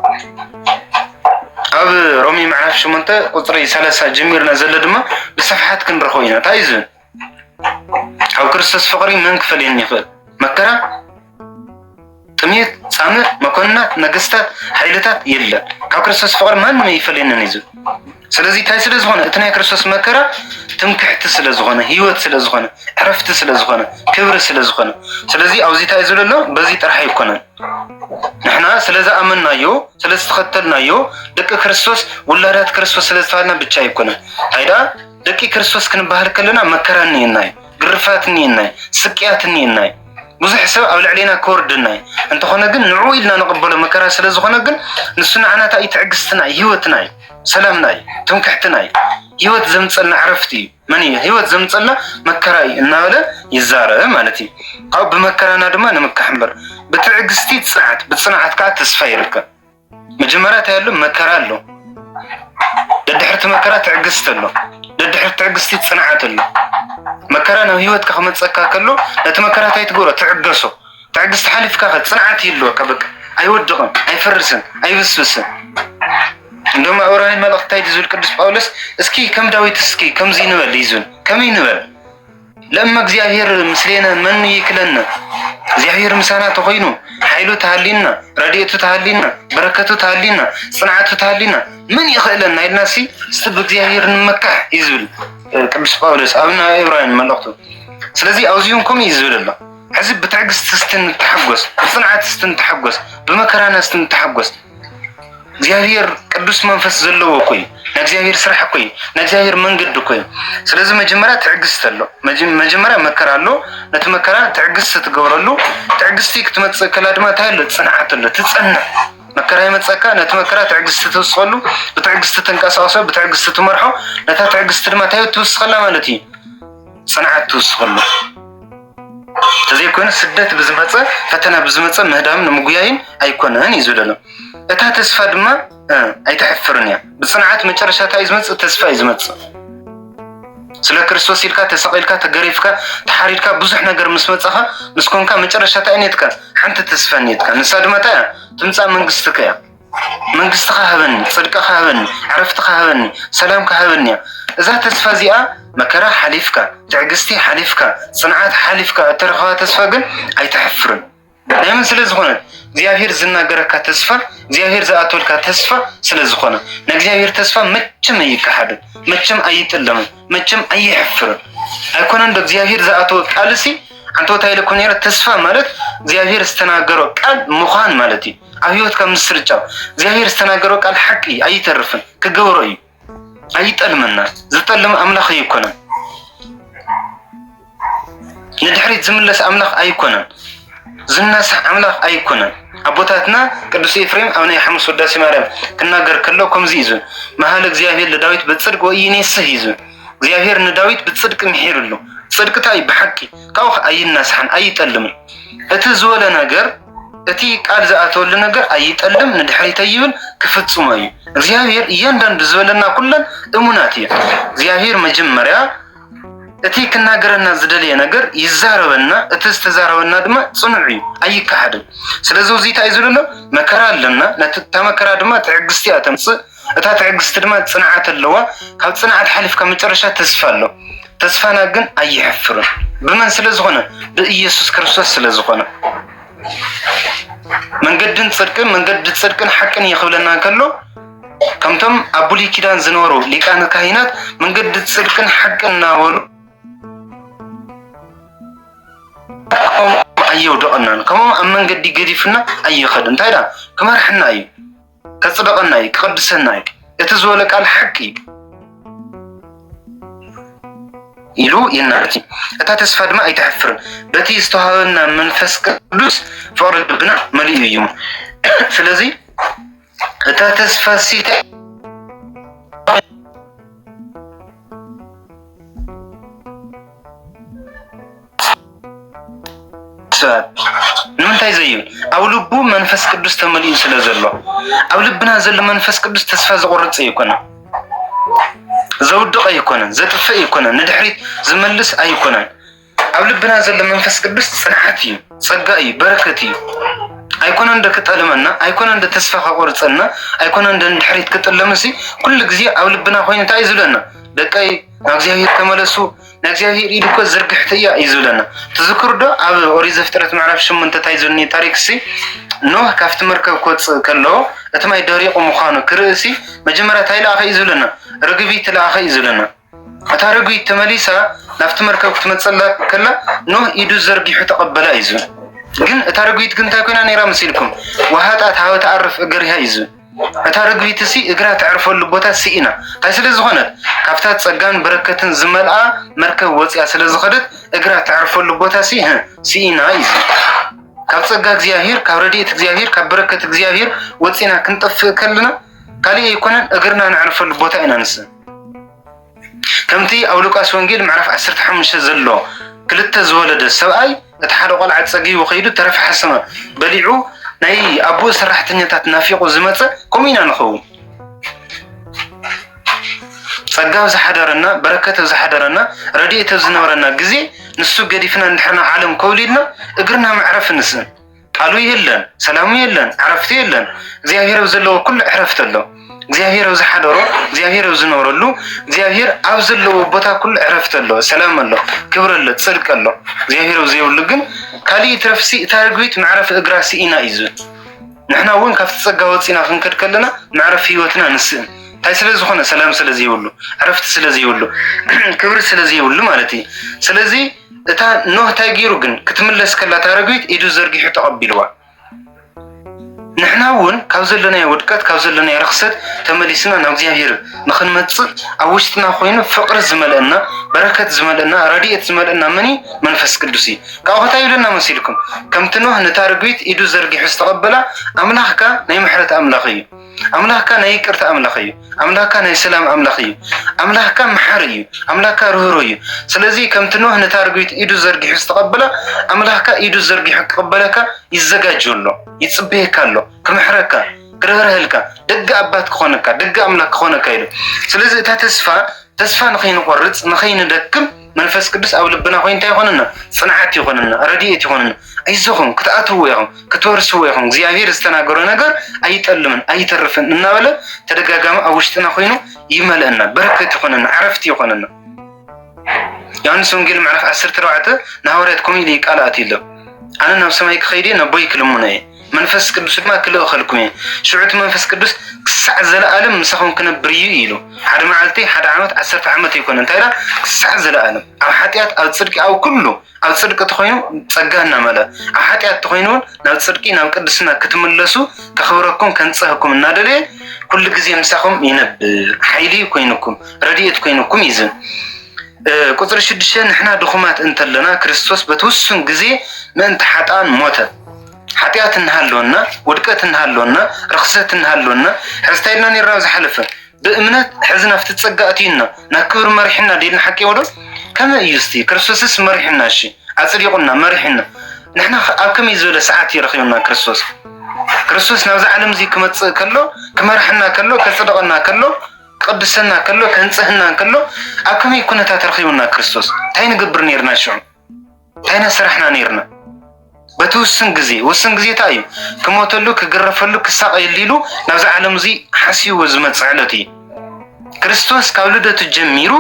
ኣብ ሮሚ ምዕራፍ ሸሞንተ ቁፅሪ ሰላሳ ጀሚርና ዘሎ ድማ ብስፍሓት ክንረኽቦ ኢና እንታይ እዩ ዝብል ካብ ክርስቶስ ፍቕሪ መን ክፈልየኒ ይኽእል መከራ ጥሜት፣ ጻምእ፣ መኮንናት፣ ነገስታት፣ ሓይልታት የለን። ካብ ክርስቶስ ፍቕሪ ማንም ኣይፈልየንን እዩ ዝብል ስለዚ እንታይ ስለ ዝኾነ እቲ ናይ ክርስቶስ መከራ ትምክሕቲ ስለ ዝኾነ ህይወት ስለ ዝኾነ ዕረፍቲ ስለ ዝኾነ ክብሪ ስለ ዝኾነ ስለዚ ኣብዚ እንታይ ዝብለ ኣሎ በዚ ጥራሕ ኣይኮነን ንሕና ስለ ዝኣመናዮ ስለ ዝተኸተልናዮ ደቂ ክርስቶስ ውላዳት ክርስቶስ ስለ ዝተባሃልና ብቻ ኣይኮነን እንታይ ደኣ ደቂ ክርስቶስ ክንበሃል ከለና መከራ እኒኤና እዩ ግርፋት እኒኤና እዩ ስቅያት እኒኤና እዩ ብዙሕ ሰብ ኣብ ልዕሌና ክወርድና እዩ እንተኾነ ግን ንዑ ኢልና ንቕበሎ መከራ ስለ ዝኾነ ግን ንሱ ንዓና እንታይ እዩ ትዕግስትና እዩ ህይወትና እዩ ሰላምና እዩ ትምክሕትና እዩ ህይወት ዘምፀልና ዕረፍቲ እዩ መን እዩ ህይወት ዘምፀልና መከራ እዩ እናበለ ይዛረብ ማለት እዩ ካብኡ ብመከራና ድማ ንምካሕ እምበር ብትዕግስቲ ፅንዓት ብፅንዓት ከዓ ተስፋ ይርከብ መጀመርያ እንታይ ኣሎ መከራ ኣሎ ደድሕርቲ መከራ ትዕግስቲ ኣሎ ደድሕርቲ ትዕግስቲ ፅንዓት ኣሎ መከራ ናብ ሂወትካ ክመፀካ ከሎ ነቲ መከራ እንታይ ትገብሮ ትዕገሶ ትዕግስቲ ሓሊፍካ ከ ፅንዓት ይህልወካ በቃ ኣይወድቕን ኣይፈርስን ኣይብስብስን እንደውም ዕብራውያን መልእኽቲ እንታይ ዝብል ቅዱስ ጳውሎስ እስኪ ከም ዳዊት እስኪ ከምዚ ንበል ይዙን ከመይ ንበል ለእመ እግዚኣብሔር ምስሌነ መኑ ይክለነ፣ እግዚኣብሔር ምሳና ተኮይኑ ሓይሉ ተሃሊና፣ ረድኤቱ ተሃሊና፣ በረከቱ ተሃሊና፣ ፅንዓቱ ተሃሊና ምን ይክእለና ኢልና ሲ እስቲ ብእግዚኣብሔር ንመካሕ እዩ ዝብል ቅዱስ ጳውሎስ ኣብ ናይ ዕብራውያን መልእክቱ። ስለዚ ኣብዚሁን ከምኡ እዩ ዝብል ኣሎ። ሕዚ ብትዕግስቲ እስቲ ንተሓጎስ፣ ብፅንዓት እስቲ ንተሓጎስ፣ ብመከራና እስቲ ንተሓጎስ። እግዚኣብሔር ቅዱስ መንፈስ ዘለዎ እኮ እዩ ናይ እግዚኣብሔር ስራሕ እኮ እዩ ናይ እግዚኣብሔር መንገዲ እኮ እዩ ስለዚ መጀመርያ ትዕግስቲ ኣሎ መጀመርያ መከራ ኣሎ ነቲ መከራ ትዕግስቲ ትገብረሉ ትዕግስቲ ክትመፅእ ከላ ድማ እንታይ ኣሎ ፅንዓት ኣሎ ትፀንዕ መከራ ይመፀካ ነቲ መከራ ትዕግስቲ ትውስኸሉ ብትዕግስቲ ትንቀሳቀሶ ብትዕግስቲ ትመርሖ ነታ ትዕግስቲ ድማ እንታይ ትውስኸላ ማለት እዩ ፅንዓት ትውስኸሉ ተዘይኮይኑ ስደት ብዝመፀ ፈተና ብዝመፀ ምህዳም ንምጉያይን ኣይኮነን እዩ ዝብለሎ እታ ተስፋ ድማ ኣይተሕፍርን እያ ብፅንዓት መጨረሻ እንታይ እዩ ዝመፅእ ተስፋ እዩ ዝመፅእ ስለ ክርስቶስ ኢልካ ተሰቂልካ ተገሪፍካ ተሓሪድካ ብዙሕ ነገር ምስ መፀኻ ምስ ኮንካ መጨረሻ እንታይ ኔትካ ሓንቲ ተስፋ ኔትካ ንሳ ድማ እንታይ እያ ትምፃእ መንግስትካ እያ መንግስትኻ ሃበኒ፣ ጽድቅኻ ሃበኒ፣ ዕረፍትኻ ሃበኒ፣ ሰላምካ ሃበኒ እያ። እዛ ተስፋ እዚኣ መከራ ሓሊፍካ፣ ትዕግስቲ ሓሊፍካ፣ ጽንዓት ሓሊፍካ እትረኽባ ተስፋ ግን ኣይተሕፍርን። ናይ መን ስለ ዝኾነ? እግዚኣብሔር ዝናገረካ ተስፋ፣ እግዚኣብሔር ዝኣተወልካ ተስፋ ስለ ዝኾነ። ናይ እግዚኣብሔር ተስፋ መቸም ኣይከሓድን፣ መቸም ኣይጥለምን፣ መቸም ኣይሕፍርን። ኣይኮነን ዶ እግዚኣብሔር ዝኣተወ ቃልሲ ዓንተወታ ኢለ እኮ ነይረ ተስፋ ማለት እግዚኣብሔር ዝተናገሮ ቃል ምዃን ማለት እዩ። ኣብ ህይወትካ ምስርጫው እግዚኣብሔር ዝተናገረው ቃል ሓቂ እዩ፣ ኣይተርፍን፣ ክገብሮ እዩ፣ ኣይጠልመና ዝጠልም ኣምላኽ ኣይኮነን፣ ንድሕሪት ዝምለስ ኣምላኽ ኣይኮነን፣ ዝነሳሕ ኣምላኽ ኣይኮነን። ኣቦታትና ቅዱስ ኤፍሬም ኣብ ናይ ሓሙስ ወዳሴ ማርያም ክናገር ከሎ ከምዚ እዩ ዝብል መሃለ እግዚኣብሔር ለዳዊት በጽድቅ ወኢይኔስህ እዩ ዝብል እግዚኣብሔር ንዳዊት ብጽድቅ ምሒርሉ ጽድቅታ እዩ ብሓቂ ካብኡ ኣይናሳሕን ኣይጠልምን እቲ ዝወለ ነገር እቲ ቃል ዝኣተወሉ ነገር ኣይጠልም ንድሕሪት ኣይብል ክፍጽሞ እዩ እግዚኣብሔር እያንዳንዱ ዝበለና ኩለን እሙናት እዩ እግዚኣብሔር መጀመርያ እቲ ክናገረና ዝደለየ ነገር ይዛረበና እቲ ዝተዛረበና ድማ ጽኑዕ እዩ ኣይከሓድን ስለዚ እዚ እንታይ እዩ ዝብለሎ መከራ ኣለና ነቲ መከራ ድማ ትዕግስቲ እያ ተምጽእ እታ ትዕግስቲ ድማ ጽንዓት ኣለዋ፣ ካብ ጽንዓት ሓሊፍ ካብ መጨረሻ ተስፋ ኣሎ፣ ተስፋና ግን ኣይሕፍርን፣ ብመን ስለ ዝኾነ ብኢየሱስ ክርስቶስ ስለ ዝኾነ። መንገድን ጽድቅን መንገዲ ጽድቅን ሓቅን እዩ ክብለና ከሎ ከምቶም ኣብ ብሉይ ኪዳን ዝነበሩ ሊቃነ ካህናት መንገዲ ጽድቅን ሓቅን እናበሉ ከምኦም ኣየውደቐናን ከምኦም ኣብ መንገዲ ገዲፍና ኣይኸድን እንታይ ዳ ክመርሕና እዩ ከጽደቐና እዩ፣ ክቕድሰና እዩ፣ እቲ ዝበሎ ቃል ሓቂ እዩ ኢሉ ይናገር። እታ ተስፋ ድማ ኣይተሕፍርን፣ በቲ ዝተዋህበና መንፈስ ቅዱስ ፍቕሪ ልብና መሊኡ እዩ። ስለዚ እታ ተስፋ ሲተ ንምንታይ ዘዩ ኣብ ልቡ መንፈስ ቅዱስ ተመሊኡ ስለ ዘሎ ኣብ ልብና ዘሎ መንፈስ ቅዱስ ተስፋ ዘቆርፅ ኣይኮነ ዘውድቕ ኣይኮነን ዘጥፍእ ኣይኮነን ንድሕሪት ዝመልስ ኣይኮነን ኣብ ልብና ዘሎ መንፈስ ቅዱስ ፅንዓት እዩ ፀጋ እዩ በረከት እዩ ኣይኮነ እንደ ክጠልመና ኣይኮነ እንደ ተስፋ ከቆርፀና ኣይኮነ እንደ ንድሕሪት ክጥለምሲ ኩሉ ግዜ ኣብ ልብና ኮይኑ እንታይ እዩ ዝብለና ደቀይ ናብ እግዚኣብሔር ተመለሱ ናይ እግዚኣብሔር ኢድ እኮ ዝርግሕቲ እያ እዩ ዝብለና ትዝክሩ ዶ ኣብ ኦሪት ዘፍጥረት ምዕራፍ ሸሞንተ እንታይ ዘሎ ታሪክ ሲ ኖህ ካብቲ መርከብ ክወፅእ ከሎ እቲ ማይ ደሪቁ ምዃኑ ክርእሲ መጀመርያ እንታይ ለኣኸ እዩ ዝብለና ርግቢት ለኣኸ እዩ ዝብለና እታ ርግቢት ተመሊሳ ናብቲ መርከብ ክትመፅላ ከላ ኖህ ኢዱ ዘርጊሑ ተቐበላ እዩ ዝብል ግን እታ ርግቢት ግን እንታይ ኮይና ነይራ መሲልኩም ውሃጣት ሃወ ተኣርፍ እገሪሃ እዩ ዝብል እታ ርግቢትሲ እግራ ተዕርፈሉ ቦታ ስኢና፣ እንታይ ስለ ዝኾነት? ካብታ ጸጋን በረከትን ዝመልኣ መርከብ ወጺኣ ስለ ዝኸደት፣ እግራ ተዕርፈሉ ቦታሲ ህእ ስኢና ኢዩ ዝብል። ካብ ጸጋ እግዚኣብሄር፣ ካብ ረድኤት እግዚኣብሄር፣ ካብ በረከት እግዚኣብሄር ወጺእና ክንጠፍእ ከለና ካልእ ኣይኮነን እግርና ነዕርፈሉ ቦታ ኢና ንስእን። ከምቲ ኣብ ሉቃስ ወንጌል ምዕራፍ ዓሰርተ ሓሙሽተ ዘሎ ክልተ ዝወለደ ሰብኣይ እቲ ሓደ ቆልዓ ጸጊቡ ከይዱ ተረፈ ሓሰማ በሊዑ ናይ ኣቦኡ ሰራሕተኛታት ናፊቑ ዝመጸ ከምኡ ኢና ንኸውን። ጸጋ ኣብ ዝሓደረና በረከት ኣብ ዝሓደረና ረድኤት ኣብ ዝነበረና ግዜ ንሱ ገዲፍና ንድሕርና ዓለም ኮብሊልና እግርና መዕረፊ ንስእን ቃሉ የለን፣ ሰላሙ የለን፣ ዕረፍቱ የለን። እግዚኣብሔር ኣብ ዘለዎ ኩሉ ዕረፍቲ ኣሎ። እግዚኣብሔር ኣብ ዝሓደሮ፣ እግዚኣብሔር ኣብ ዝነብረሉ፣ እግዚኣብሔር ኣብ ዘለዎ ቦታ ኩሉ ዕረፍቲ ኣሎ፣ ሰላም ኣሎ፣ ክብሪ ኣሎ፣ ፅድቂ ኣሎ። እግዚኣብሔር ኣብ ዘይብሉ ግን ካሊእ ትረፍሲ እታ ርግቢት መዕረፊ እግራ ስኢና እዩ ዝብል። ንሕና እውን ካብቲ ፀጋ ወፂና ክንከድ ከለና መዕረፊ ህይወትና ንስእን። እንታይ ስለ ዝኾነ ሰላም ስለ ዘይብሉ፣ ዕረፍቲ ስለ ዘይብሉ፣ ክብሪ ስለ ዘይብሉ ማለት እዩ። ስለዚ እታ ኖህ እንታይ ገይሩ ግን ክትምለስ ከላ እታ ረግቢት ኢዱ ዘርጊሑ ተቐቢልዋ። ንሕና እውን ካብ ዘለናዮ ውድቀት ካብ ዘለናዮ ርክሰት ተመሊስና ናብ እግዚኣብሔር ንክንመፅእ ኣብ ውሽጥና ኮይኑ ፍቅሪ ዝመልአና በረከት ዝመልአና ረድኤት ዝመልአና መን እዩ? መንፈስ ቅዱስ እዩ። ካብኡ ከታ ይብለና መሲልኩም ከምቲ ኖህ ነታ ርግቢት ኢዱ ዘርጊሑ ዝተቀበላ ኣምላኽካ ናይ ምሕረት ኣምላኽ እዩ። ኣምላኽካ ናይ ይቅርታ ኣምላኽ እዩ። ኣምላኽካ ናይ ሰላም ኣምላኽ እዩ። ኣምላኽካ መሓሪ እዩ። ኣምላኽካ ርህሩ እዩ። ስለዚ ከምቲ ኖህ ነታ ርግቢት ኢዱ ዘርጊሑ ዝተቐበላ ኣምላኽካ ኢዱ ዘርጊሑ ክቕበለካ ይዘጋጆ ኣሎ፣ ይጽበየካ ኣሎ፣ ክምሕረካ ክርህርህልካ ደገ ኣባት ክኾነካ ደገ ኣምላኽ ክኾነካ ኢሉ። ስለዚ እታ ተስፋ ተስፋ ንኸይንቆርጽ ንኸይንደክም መንፈስ ቅዱስ ኣብ ልብና ኮይኑ እንታይ ይኾነና? ፅንዓት ይኾነና፣ ረድኤት ይኾነና። ኣይዞኹም ክትኣትውዎ ኢኹም፣ ክትወርስዎ ኢኹም፣ እግዚኣብሔር ዝተናገሮ ነገር ኣይጠልምን ኣይተርፍን እናበለ ተደጋጋሚ ኣብ ውሽጥና ኮይኑ ይመልአና፣ በረከት ይኾነና፣ ዕረፍቲ ይኾነና። ዮሐንስ ወንጌል ምዕራፍ ዓሰርተ ኣርባዕተ ንሃዋርያት ከምኡ ኢሉ ቃል ኣትዩሎም ኣነ ናብ ሰማይ ክኸይድ እየ ነቦይ ክልምኖ እየ መንፈስ ቅዱስ ድማ ክልእኸልኩም እየ፣ ሽዑ እቲ መንፈስ ቅዱስ ክሳዕ ዘለኣለም ምሳኹም ክነብር እዩ ኢሉ። ሓደ መዓልቲ፣ ሓደ ዓመት፣ ዓሰርተ ዓመት ኣይኮነን፣ እንታይ ደኣ ክሳዕ ዘለኣለም ኣብ ሓጢኣት፣ ኣብ ጽድቂ፣ ኣብ ኩሉ ኣብ ጽድቂ ተኾይኑ ጸጋ እናመልኣ ኣብ ሓጢኣት ተኾይኑ እውን ናብ ጽድቂ ናብ ቅድስና ክትምለሱ ከኽብረኩም ከንጽህኩም እናደለየ ኩሉ ግዜ ምሳኹም ይነብር፣ ሓይሊ ኮይኑኩም፣ ረድኤት ኮይኑኩም እዩ ዝብል ቁጽሪ ሽዱሽተ ንሕና ድኹማት እንተለና ክርስቶስ በቲ ውሱን ግዜ ምእንቲ ሓጥኣን ሞተ። ሓጢኣት እናሃለወና ውድቀት እናሃለወና ርኽሰት እናሃለወና ሕዝታይ ኢልና ነርና ኣብ ዝሓለፈ ብእምነት ሕዚ ናብቲ ጸጋ ኣትዩና ናብ ክብሪ መሪሕና ደልና ሓቂ ወዶ ከመይ እዩ ስቲ ክርስቶስስ መሪሕና እሺ ኣጽዲቑና መሪሕና ንሕና ኣብ ከመይ ዝበለ ሰዓት እዩ ረኺቡና ክርስቶስ ክርስቶስ ናብዚ ዓለም እዚ ክመጽእ ከሎ ክመርሐና ከሎ ከጽድቐና ከሎ ክቅድሰና ከሎ ከንጽህና ከሎ ኣብ ከመይ ኩነታት ረኺቡና ክርስቶስ እንታይ ንገብር ነርና ሽዑ እንታይ ኢና ሰራሕና ነይርና? በቲ ውስን ግዜ ውስን ግዜ እንታይ እዩ ክሞተሉ ክግረፈሉ ክሳቐየሉ ኢሉ ናብዚ ዓለም እዚ ሓስይዎ ዝመፅእ ዕለት እዩ። ክርስቶስ ካብ ልደቱ ጀሚሩ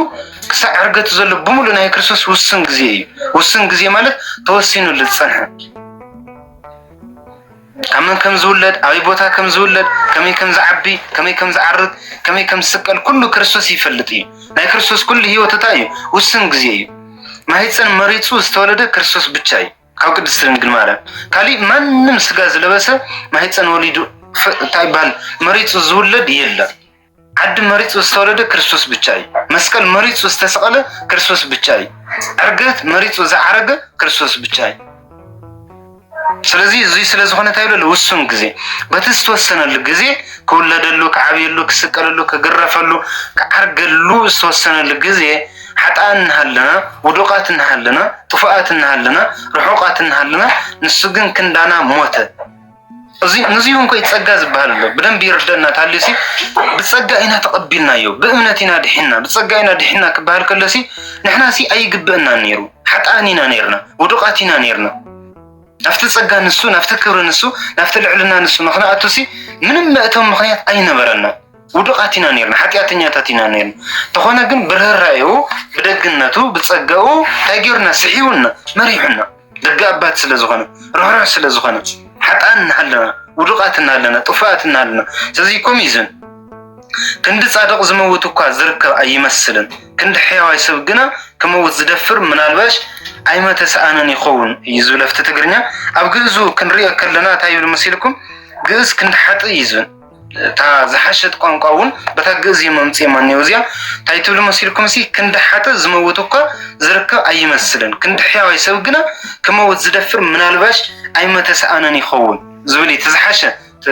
ክሳዕ ዕርገቱ ዘሎ ብምሉእ ናይ ክርስቶስ ውስን ግዜ እዩ። ውስን ግዜ ማለት ተወሲኑሉ ዝፀንሐ ካብ መን ከም ዝውለድ፣ ኣበይ ቦታ ከም ዝውለድ፣ ከመይ ከም ዝዓቢ፣ ከመይ ከም ዝዓርግ፣ ከመይ ከም ዝስቀል ኩሉ ክርስቶስ ይፈልጥ እዩ። ናይ ክርስቶስ ኩሉ ህይወት እታይ እዩ? ውሱን ግዜ እዩ። ማህጸን መሪጹ ዝተወለደ ክርስቶስ ብቻ እዩ ካብ ቅድስት ድንግል ማርያም። ካሊእ ማንም ስጋ ዝለበሰ ማህጸን ወሊዱ እታይ ይባሃል መሪጹ ዝውለድ የለን። ዓዲ መሪጹ ዝተወለደ ክርስቶስ ብቻ እዩ። መስቀል መሪጹ ዝተሰቐለ ክርስቶስ ብቻ እዩ። ዕርገት መሪጹ ዝዓረገ ክርስቶስ ብቻ እዩ። ስለዚ እዚ ስለ ዝኾነ እንታይ ይብለሉ ውሱን ግዜ በቲ ዝተወሰነሉ ግዜ ክውለደሉ፣ ክዓብየሉ፣ ክስቀለሉ፣ ክግረፈሉ፣ ክዓርገሉ ዝተወሰነሉ ግዜ ሓጣን እናሃለና ውዱቃት እናሃለና ጥፉኣት እናሃለና ርሑቃት እናሃለና ንሱ ግን ክንዳና ሞተ። ንዚውን ኮይ ጸጋ ዝበሃል ኣሎ ብደንቢ ይርደና ታልሲ ብጸጋ ኢና ተቐቢልናዮ ብእምነት ኢና ድሒና ብጸጋ ኢና ድሒና ክበሃል ከለሲ ንሕናሲ ኣይግብእና ነይሩ ሓጥኣን ኢና ነርና ውዱቓት ኢና ነርና ናብቲ ጸጋ ንሱ ናብቲ ክብሪ ንሱ ናብቲ ልዕልና ንሱ ምክንያቱሲ ምንም መእተው ምክንያት ኣይነበረና ውዱቓት ኢና ነርና ሓጢኣተኛታት ኢና ነርና ተኾነ ግን ብርህራኤኡ ብደግነቱ ብጸጋኡ እንታይ ጌሩና ስሒቡና መሪሑና ደጋ ኣባት ስለ ዝኾነ ርሕሩሕ ስለ ዝኾነ ሓጣን እናሃለና ውዱቃት እናሃለና ጥፉኣት እናሃለና ስለዚ ኮሚዝን ክንዲ ጻድቕ ዝመውት እኳ ዝርከብ ኣይመስልን ክንዲ ሕያዋይ ሰብ ግና ክመውት ዝደፍር ምናልባሽ ኣይመተ ሰኣንን ይኸውን እዩ ዝብል ኣብቲ ትግርኛ ኣብ ግእዙ ክንሪኦ ከለና እንታይ ይብል መሲልኩም ግእዝ ክንዲ ሓጥእ እዩ ዝብል እታ ዝሓሸት ቋንቋ እውን በታ ግእዝ እዮም ኣምፂኦማ እኒኦ እዚኣ እንታይ ትብሉ መሲልኩም ሲ ክንዲ ሓጥ ዝመውት እኳ ዝርከብ ኣይመስልን ክንዲ ሕያዋይ ሰብ ግና ክመውት ዝደፍር ምናልባሽ ኣይመተሰኣነን ይኸውን ዝብል እቲ ዝሓሸ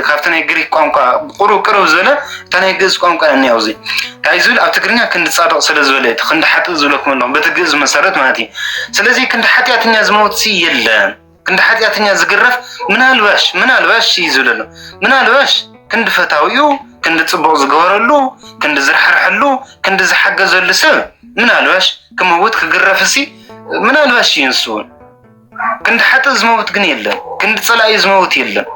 ካብቲ ናይ ግሪክ ቋንቋ ቁሩ ቅርብ ዝበለ እታ ናይ ግእዝ ቋንቋ እያ እኒኣ ኣብዚ እንታይ ዝብል ኣብ ትግርኛ ክንዲ ፃድቕ ስለ ዝበለ እቲ ክንዲ ሓጥእ ዝብለኩም ኣለኹም በቲ ግእዝ መሰረት ማለት እዩ ስለዚ ክንዲ ሓጢኣተኛ ዝመውት ሲ የለን ክንዲ ሓጢኣተኛ ዝግረፍ ምናልባሽ ምናልባሽ እዩ ዝብለ ኣሎ ምናልባሽ ክንዲ ፈታዊኡ ክንዲ ፅቡቕ ዝገበረሉ ክንዲ ዝረሓርሐሉ ክንዲ ዝሓገዘሉ ሰብ ምናልባሽ ክመውት ክግረፍ እሲ ምናልባሽ እዩ ንሱ እውን ክንዲ ሓጥእ ዝመውት ግን የለን ክንዲ ፀላኢ ዝመውት የለን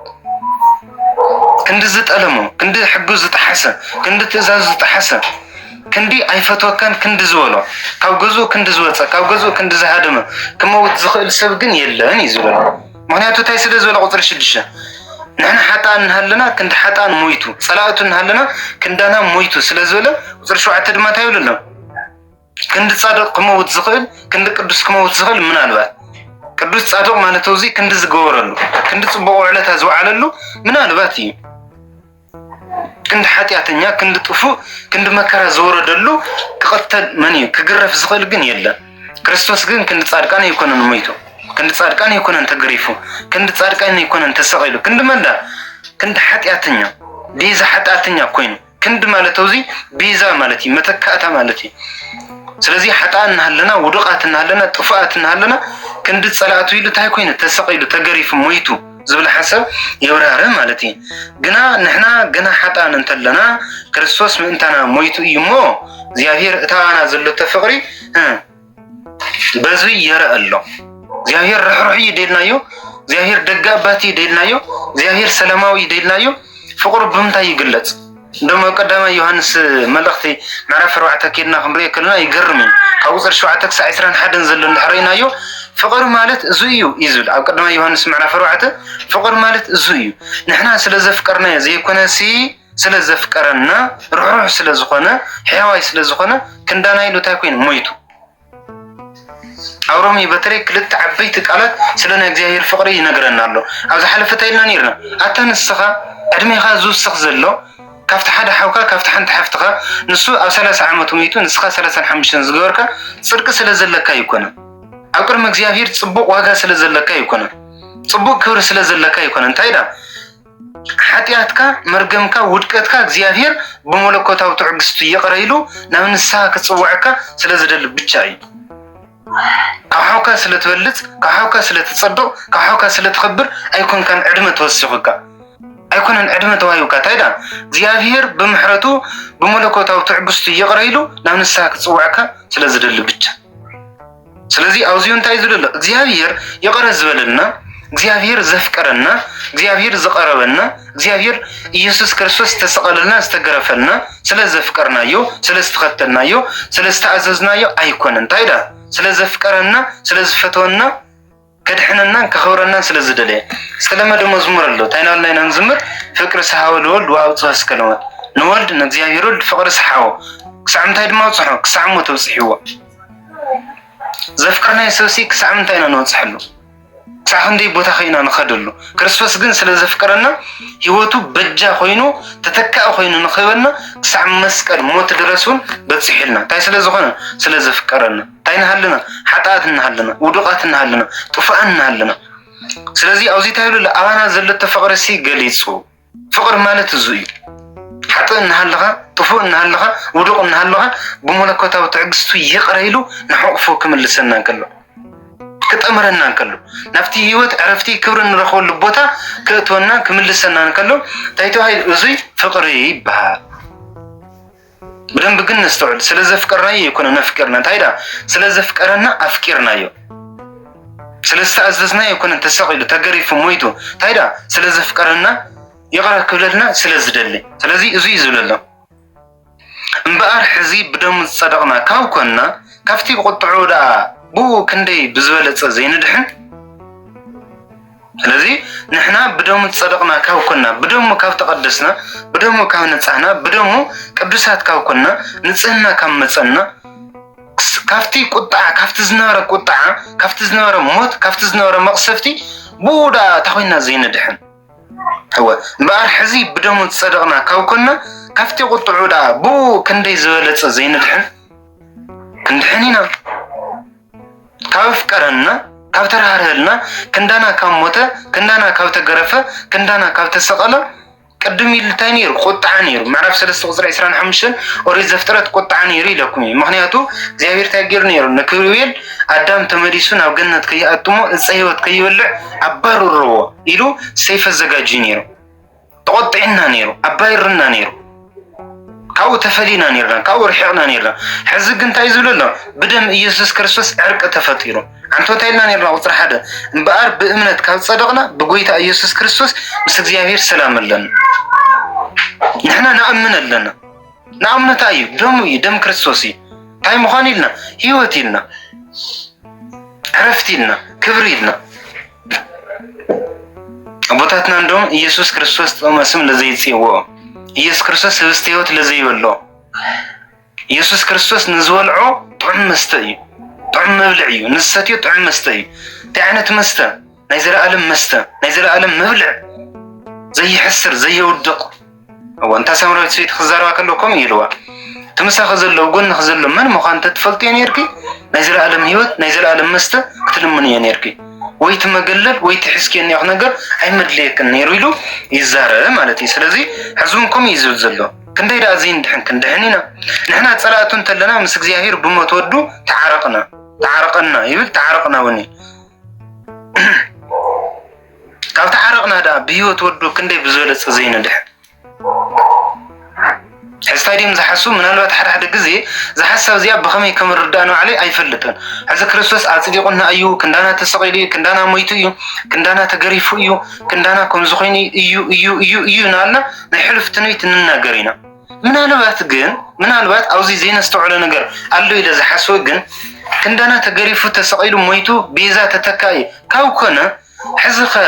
ክንዲ ዝጠለሞ ክንዲ ሕጉ ዝጠሓሰ ክንዲ ትእዛዙ ዝጠሓሰ ክንዲ ኣይፈትወካን ክንዲ ዝበሎ፣ ካብ ገዝኡ ክንዲ ዝወጸ፣ ካብ ገዝኡ ክንዲ ዝሃደመ ክመውት ዝኽእል ሰብ ግን የለን እዩ ዝበሎ። ምኽንያቱ እንታይ ስለ ዝበለ ቁጽሪ ሽዱሽተ ንሕና ሓጥኣን እናሃለና ክንዲ ሓጥኣን ሞይቱ፣ ጸላእቱ እናሃለና ክንዳና ሞይቱ ስለ ዝበለ ቁጽሪ ሸውዓተ ድማ እንታይ ይብሉ ኣሎ ክንዲ ጻድቕ ክመውት ዝኽእል ክንዲ ቅዱስ ክመውት ዝኽእል ምናልባት ቅዱስ ጻድቕ ማለት እዚ ክንዲ ዝገበረሉ ክንዲ ጽቡቕ ውዕለታ ዝወዓለሉ ምናልባት እዩ። ክንዲ ሓጢኣተኛ ክንዲ ጥፉእ ክንዲ መከራ ዝወረደሉ ክቐተል መን እዩ ክግረፍ ዝኽእል ግን የለን። ክርስቶስ ግን ክንዲ ጻድቃን ኣይኮነን ሞይቱ፣ ክንዲ ጻድቃን ኣይኮነን ተገሪፉ፣ ክንዲ ጻድቃን ኣይኮነን ተሰቒሉ፣ ክንዲ መንዳ ክንዲ ሓጢኣተኛ ቤዛ ሓጢኣተኛ ኮይኑ ክንዲ ማለት ኣብዚ ቤዛ ማለት እዩ መተካእታ ማለት እዩ። ስለዚ ሓጣን እናሃለና ውዱቃት እናሃለና ጥፉኣት እናሃለና ክንዲ ጸላእቱ ኢሉ እንታይ ኮይኑ ተሰቒሉ ተገሪፉ ሞይቱ ዝብል ሓሳብ የብራህረ ማለት እዩ ግና ንሕና ገና ሓጣን እንተለና ክርስቶስ ምእንታና ሞይቱ እዩ እሞ እግዚኣብሔር እታ ኣና ዘለቶ ፍቅሪ በዙ የረእ ኣሎ እግዚኣብሔር ርሕሩሕ እዩ ደልናዮ እግዚኣብሔር ደጋባት እዩ ደልናዮ እግዚኣብሔር ሰላማዊ እዩ ደልናዮ ፍቅሩ ብምንታይ ይግለፅ እንደውም ኣብ ቀዳማይ ዮሃንስ መልእኽቲ ምዕራፍ ኣርባዕተ ኬድና ክንሪኦ ከለና ይገርም እዩ። ካብ ቁፅሪ ሸውዓተ ክሳዕ ዕስራን ሓደን ዘሎ እንድሕር ርኢናዮ ፍቕሪ ማለት እዙ እዩ እዩ ዝብል ኣብ ቀዳማይ ዮሃንስ ምዕራፍ ኣርባዕተ ፍቕሪ ማለት እዙ እዩ። ንሕና ስለ ዘፍቀርናዮ ዘይኮነሲ ስለ ዘፍቀረና ርኅሩኅ ስለ ዝኾነ ሕያዋይ ስለ ዝኾነ ክንዳና ኢሉ እንታይ ኮይኑ ሞይቱ። ኣብ ሮሜ በተለይ ክልተ ዓበይቲ ቃላት ስለ ናይ እግዚኣብሔር ፍቅሪ ይነግረና ኣሎ ኣብ ዝሓለፈ እንታይ ኢልና ነርና ኣታ ንስካ ዕድሜካ ዝውስክ ዘሎ ካብቲ ሓደ ሓውካ ካብቲ ሓንቲ ሓፍትካ ንሱ ኣብ ሰላሳ ዓመቱ ሚቱ ንስካ ሰላሳን ሓሙሽተን ዝገበርካ ጽድቂ ስለ ዘለካ ኣይኮነን ኣብ ቅድሚ እግዚኣብሔር ጽቡቅ ዋጋ ስለ ዘለካ ኣይኮነን ጽቡቅ ክብሪ ስለ ዘለካ ኣይኮነን እንታይ ዳ ሓጢኣትካ መርገምካ ውድቀትካ እግዚኣብሔር ብመለኮታዊ ትዕግስቱ ይቕረ ኢሉ ናብ ንስሓ ክጽውዐካ ስለ ዝደሊ ብቻ እዩ። ካብ ሓውካ ስለ ትበልጽ፣ ካብ ሓውካ ስለ ትጸብቕ፣ ካብ ሓውካ ስለ ትኸብር ኣይኮንካን ዕድመ ተወሲኹካ ኣይኮነን ዕድመ ተዋሂብካ እንታይ ደኣ እግዚኣብሔር ብምሕረቱ ብመለኮታዊ ትዕግስቱ ይቕረ ኢሉ ናብ ንስሓ ክጽውዐካ ስለ ዝደሊ ብቻ ስለዚ ኣብዚ እንታይ ዝሉ ኣሎ እግዚኣብሄር ይቕረ ዝበለልና እግዚኣብሄር ዘፍቀረና እግዚኣብሄር ዝቐረበና እግዚኣብሄር ኢየሱስ ክርስቶስ ዝተሰቐለልና ዝተገረፈልና ስለ ዘፍቀርናዮ ስለ ዝተኸተልናዮ ስለ ዝተኣዘዝናዮ ኣይኮነን እንታይ ዳ ስለ ዘፍቀረና ስለ ዝፈተወና ከድሕነናን ከኽብረናን ስለ ዝደለየ ጸለመ ደሞ ዝሙር ኣሎ እንታይ ናበልና ኢና ንዝምር ፍቅር ሰሓወ ልወልድ ወኣብጽሖ እስከ ለወልድ ንወልድ ንእግዚኣብሔር ወልድ ፍቅሪ ሰሓዎ ክሳዕ ምንታይ ድማ ኣብጽሖ ክሳዕ ሞት ኣብጽሕዎ ዘፍቀርናዮ ሰብሲ ክሳዕ ምንታይ ኢና ንበጽሐሉ ክሳዕ ክንደይ ቦታ ከይና ንኸደሉ ክርስቶስ ግን ስለ ዘፍቀረና ህይወቱ በጃ ኮይኑ ተተካኢ ኮይኑ ንኽህበና ክሳዕ መስቀል ሞት ድረስ እውን በፂሑልና እንታይ ስለ ዝኾነ ስለ ዘፍቀረና እንታይ እናሃለና ሓጣኣት እናሃለና ውዱቓት እናሃለና ጥፉኣን እናሃለና ስለዚ ኣብዚ እንታይ ይብሉ ኣባና ዘሎ ተፍቕሪ ሲ ገሊጹ ፍቕሪ ማለት እዙ እዩ ሓጥእ እናሃለኻ ጥፉእ እናሃለኻ ውዱቕ እናሃለኻ ብመለኮታዊ ትዕግስቱ ይቕረ ኢሉ ንሕቑፉ ክምልሰና እንከሎ ክጠምረና እንከሎ ናብቲ ህይወት ዕረፍቲ ክብሪ እንረኽበሉ ቦታ ክእትወና ክምልሰና እንከሎ እንታይ ተባሂሉ እዙይ ፍቕሪ ይበሃል ብደንብ ግን ነስተውዕል። ስለ ዘፍቀርናዮ ኣይኮነን ኣፍቂርና፣ እንታይ ደኣ ስለ ዘፍቀረና ኣፍቂርናዮ። ስለ ዝተኣዘዝናዮ ኣይኮነን ተሰቒሉ፣ ተገሪፉ፣ ሞይቱ፣ እንታይ ደኣ ስለ ዘፍቀረና ይቕረ ክብለልና ስለ ዝደሊ። ስለዚ እዚ እዩ ዝብለሎ እምበኣር ሕዚ ብደሙ ዝጸደቕና ካብ ኮንና ካብቲ ብቁጥዑ ደኣ ብኡ ክንደይ ብዝበለጸ ዘይንድሕን ስለዚ ንሕና ብደሙ ዝጸደቕና ካብ ኮና ብደሙ ካብ ተቐደስና ብደሙ ካብ ነጻህና ብደሙ ቅዱሳት ካብ ኮና ንጽህና ካብ መጸና ካብቲ ቁጣዓ ካብቲ ዝነበረ ቁጣዓ ካብቲ ዝነበረ ሞት ካብቲ ዝነበረ መቕሰፍቲ ብኡ ደኣ እታ ኮይና ዘይንድሕን እወ እምበኣር ሕዚ ብደሙ ዝጸደቕና ካብ ኮና ካብቲ ቁጥዑ ደኣ ብኡ ክንደይ ዝበለጸ ዘይንድሕን ክንድሕን ኢና ካብ ኣፍቀረና ካብ ተራህርሀልና ክንዳና ካብ ሞተ ክንዳና ካብ ተገረፈ ክንዳና ካብ ተሰቐለ ቅድም ኢሉ እንታይ ነይሩ ቁጥዓ ነይሩ ምዕራፍ ሰለስተ ቁፅሪ ዕስራን ሓሙሽተን ኦሪት ዘፍጥረት ቁጥዓ ነይሩ ኢለኩም እዩ ምክንያቱ እግዚኣብሔር እንታይ ገይሩ ነይሩ ንክብርቤል ኣዳም ተመሊሱ ናብ ገነት ከይኣትሞ እፀ ህይወት ከይበልዕ ኣባርርዎ ኢሉ ሰይፈ ዘጋጅዩ ነይሩ ተቖጢዕና ነይሩ፣ ኣባይርና ነይሩ፣ ካብኡ ተፈሊና ነርና፣ ካብኡ ርሒቕና ነርና። ሕዚ ግን እንታይ ዝብሎ ኣሎ? ብደም ኢየሱስ ክርስቶስ ዕርቂ ተፈጢሩ። ዓንቶት ኢልና ነርና ቁፅሪ ሓደ እምበኣር ብእምነት ካብ ፀደቕና ብጎይታ ኢየሱስ ክርስቶስ ምስ እግዚኣብሔር ሰላም ኣለና። ንሕና ንኣምን ኣለና። ንኣምነታ እዩ ደሙ እዩ ደም ክርስቶስ እዩ። እንታይ ምዃን ኢልና ህይወት ኢልና ዕረፍቲ ኢልና ክብሪ ኢልና ኣቦታትና እንዶም ኢየሱስ ክርስቶስ ጥቕመ ስም ለዘይጽውኦ ኢየሱስ ክርስቶስ ህብስተ ሕይወት ለዘይበሎ ኢየሱስ ክርስቶስ ንዝበልዖ ጥዑም መስተ እዩ፣ ጥዑም መብልዕ እዩ፣ ንዝሰትዮ ጥዑም መስተ እዩ። እንታይ ዓይነት መስተ? ናይ ዘለኣለም መስተ፣ ናይ ዘለኣለም መብልዕ፣ ዘይሕስር፣ ዘየውድቕ እወ እንታ ሰምረዊት ሰይቲ ክዛረባ ከለዉ ከምኡ ይብልዋ እቲ ምሳኺ ዘለዉ ጎንኺ ዘሎ መን ምዃኑ ተትፈልጥዮ ነርኪ ናይ ዘለኣለም ህይወት ናይ ዘለኣለም መስተ ክትልምንዮ ነርኪ ወይ እቲ መገለል ወይ እቲ ሕዝክዮ እኒኦኽ ነገር ኣይመድልየክን ነይሩ ኢሉ ይዛረበ ማለት እዩ ስለዚ ሕዚ እውን ከምኡ እዩ ዝብል ዘሎ ክንደይ ደኣ ዘይንድሕን ክንድሕን ኢና ንሕና ፀላእቱ እንተለና ምስ እግዚኣብሔር ብሞት ወዱ ተዓረቕና ተዓረቐና ይብል ተዓረቕና እውን እዩ ካብ ተዓረቕና ድኣ ብሂወት ወዱ ክንደይ ብዝበለፀ ዘይነድሕን ሕዚ ታይ ድዮም ዝሓስቡ ምናልባት ሓደ ሓደ ግዜ እዛ ሓሳብ እዚኣ ብኸመይ ከም ርዳእ ንባዕለይ ኣይፈልጥን ሕዚ ክርስቶስ ኣፅዲቑና እዩ ክንዳና ተሰቒሉ እዩ ክንዳና ሞይቱ እዩ ክንዳና ተገሪፉ እዩ ክንዳና ከምዚ ኮይኑ እዩ እዩ እዩ እዩ ናበልና ናይ ሕሉፍ ትንቢት ንናገር ኢና ምናልባት ግን ምናልባት ኣብዚ ዘይነስተውዕሎ ነገር ኣሎ ኢለ ዝሓስቦ ግን ክንዳና ተገሪፉ ተሰቒሉ ሞይቱ ቤዛ ተተካኢ ካብ ኮነ ሕዚ ከ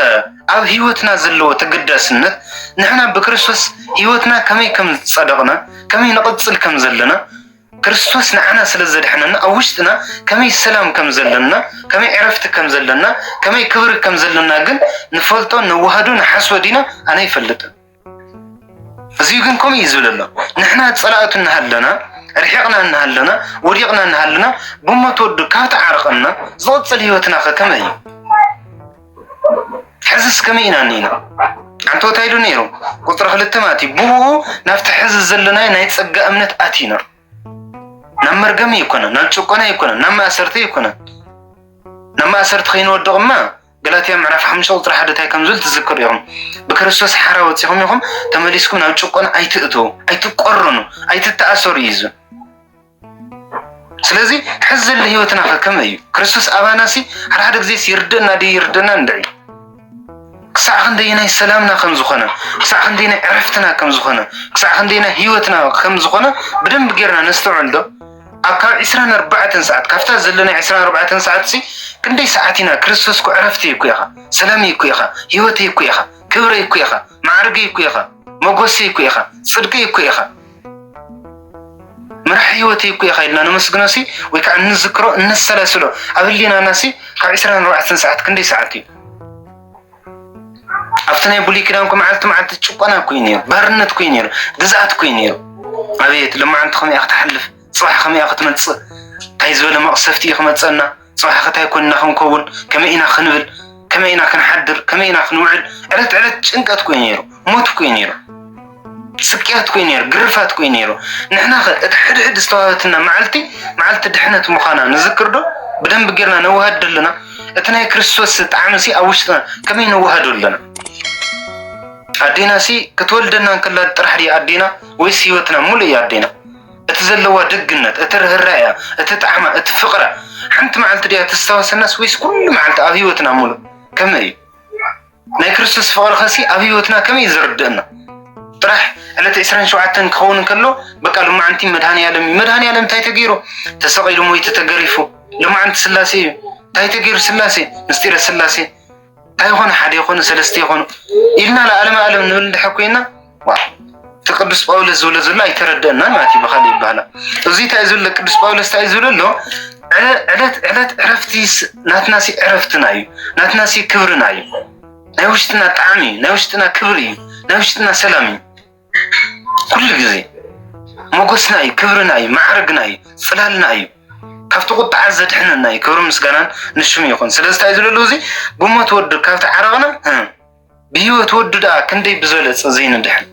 ኣብ ህይወትና ዘለዎ ተገዳስነት ንሕና ብክርስቶስ ህይወትና ከመይ ከም ዝጸደቕና ከመይ ንቕጽል ከም ዘለና ክርስቶስ ንዓና ስለ ዘድሐነና ኣብ ውሽጥና ከመይ ሰላም ከም ዘለና ከመይ ዕረፍቲ ከም ዘለና ከመይ ክብሪ ከም ዘለና ግን ንፈልጦ ነዋህዶ ንሓስቦ ዲና ኣነ ይፈልጥን ህዝቢ ግን ከምኡ እዩ ዝብል ኣሎ ንሕና ፀላእቱ እናሃለና ርሒቕና እናሃለና ወዲቕና እናሃለና ብሞት ወዱ ካብ ተዓርቐና ዝቕፅል ህይወትና ከ ከመይ እዩ ሕዝስ ከመይ ኢና እኒና ሓንቲ ቦታ ኢሉ ነይሩ ቁፅሪ ክልተ ማለት እዩ ብኡ ናብቲ ሕዚ ዘለና ናይ ፀጋ እምነት ኣቲና ናብ መርገሚ ኣይኮነን ናብ ጭቆና ኣይኮነን ናብ ማእሰርቲ ኣይኮነን ናብ ማእሰርቲ ከይንወድቕ እማ ገላትያ ምዕራፍ ሓሙሽተ ቁፅሪ ሓደ እንታይ ከም ዝብል ትዝክሩ ኢኹም። ብክርስቶስ ሓራ ወፂኹም ኢኹም ተመሊስኩም ናብ ጭቆና ኣይትእትዉ፣ ኣይትቆርኑ፣ ኣይትተኣሰሩ እዩ ዝብል ስለዚ ሕዚ ዘሎ ህይወትና ከ ከመይ እዩ ክርስቶስ ኣባና ሲ ሓደ ሓደ ግዜ ይርድእና ድዩ ይርድእና እንድዒ ክሳዕ ክንደየናይ ሰላምና ከም ዝኾነ ክሳዕ ክንደየናይ ዕረፍትና ከም ዝኾነ ክሳዕ ክንደየናይ ህይወትና ከም ዝኾነ ብደንብ ጌርና ነስተውዕል ዶ ኣብ ካብ ዕስራን ኣርባዕተን ሰዓት ካብታ ዘለና ዕስራን ኣርባዕተን ሰዓት ሲ ክንደይ ሰዓት ኢና ክርስቶስ እኮ ዕረፍተይ እኮ ኢኻ፣ ሰላመይ እኮ ኢኻ፣ ህይወተይ እኮ ኢኻ፣ ክብረይ እኮ ኢኻ፣ ማዕርገይ እኮ ኢኻ፣ መጎሰይ እኮ ኢኻ፣ ጽድቀይ እኮ ኢኻ፣ ምራሕ ህይወተይ እኮ ኢኻ ኢልና ነመስግኖ ሲ ወይ ከዓ እንዝክሮ እነሰላስሎ ኣብ ህሊናና ሲ ካብ ዕስራን ኣርባዕተን ሰዓት ክንደይ ሰዓት እዩ? ኣብቲ ናይ ብሉይ ኪዳን እኮ መዓልቲ መዓልቲ ጭቆና እኮ እዩ ነይሩ፣ ባርነት እኮ እዩ ነይሩ፣ ግዝኣት እኮ እዩ ነይሩ። ኣቤት ልማዓንቲ ከመይ እያ ክትሓልፍ፣ ፅባሕ ከመይ እያ ክትመፅእ፣ እንታይ ዝበለ መቕሰፍቲ እዩ ክመፀና፣ ፅባሕ ከታይ ኮይንና ክንከውን፣ ከመይ ኢና ክንብል፣ ከመይ ኢና ክንሓድር፣ ከመይ ኢና ክንውዕል፣ ዕለት ዕለት ጭንቀት እኮ እዩ ነይሩ። ሞት እኮ እዩ ነይሩ፣ ስቅያት እኮ እዩ ነይሩ፣ ግርፋት እኮ እዩ ነይሩ። ንሕና ከ እቲ ሕድሕድ ዝተዋህበትና መዓልቲ መዓልቲ ድሕነት ምዃና ንዝክር ዶ? ብደንብ ጌርና ነዋህድ ዶ ኣለና? እቲ ናይ ክርስቶስ ጣዕሚ ሲ ኣብ ውሽጥና ከመይ ነዋህዶ ኣለና? ኣዴና ሲ ክትወልደና እንከላ ጥራሕ ድያ ኣዴና ወይስ ህይወትና ሙሉ እያ ኣዴና? እቲ ዘለዋ ደግነት፣ እቲ ርህራኤያ፣ እቲ ጣዕማ፣ እቲ ፍቅራ ሓንቲ መዓልቲ ድያ ተስታወሰናስ ወይስ ኩሉ መዓልቲ ኣብ ህይወትና ሙሉ ከመይ እዩ? ናይ ክርስቶስ ፍቕርኸሲ ኣብ ህይወትና ከመይ እዩ ዝርድእና? ጥራሕ ዕለተ ዕስራን ሸውዓተን ክኸውን እንከሎ በቃ ልማዓንቲ መድሃኒኣለም እዩ። መድሃኒኣለም እንታይ ተገይሩ? ተሰቒሉ ሞይቱ ተገሪፉ። ልማዓንቲ ስላሴ እዩ። እንታይ ተገይሩ ስላሴ? ምስጢረ ስላሴ እንታይ ይኾኑ? ሓደ ይኾኑ ሰለስተ ይኾኑ ኢልና ለዓለመ ዓለም ንብል እንድሕር ኮይና እቲ ቅዱስ ጳውሎስ ዝብሎ ዘሎ ኣይተረደአና ማለት እዩ ብካሊእ ይባሃላ እዚ እንታይ ዝብሎ ቅዱስ ጳውሎስ እንታይ ዝብሎ ኣሎ ዕለት ዕለት ዕረፍቲ ናትና ሲ ዕረፍትና እዩ ናትና ሲ ክብርና እዩ ናይ ውሽጥና ጣዕሚ እዩ ናይ ውሽጥና ክብሪ እዩ ናይ ውሽጥና ሰላም እዩ ኩሉ ግዜ ሞገስና እዩ ክብርና እዩ ማዕረግና እዩ ፅላልና እዩ ካብቲ ቁጣዓ ዘድሕነና እዩ ክብሪ ምስጋናን ንሽሙ ይኹን ስለዚ እንታይ ዝብሎ እዚ ብሞት ወዱ ካብቲ ዓረቕና ብህይወት ወዱ ደኣ ክንደይ ብዘለጸ ዘይንድሕን።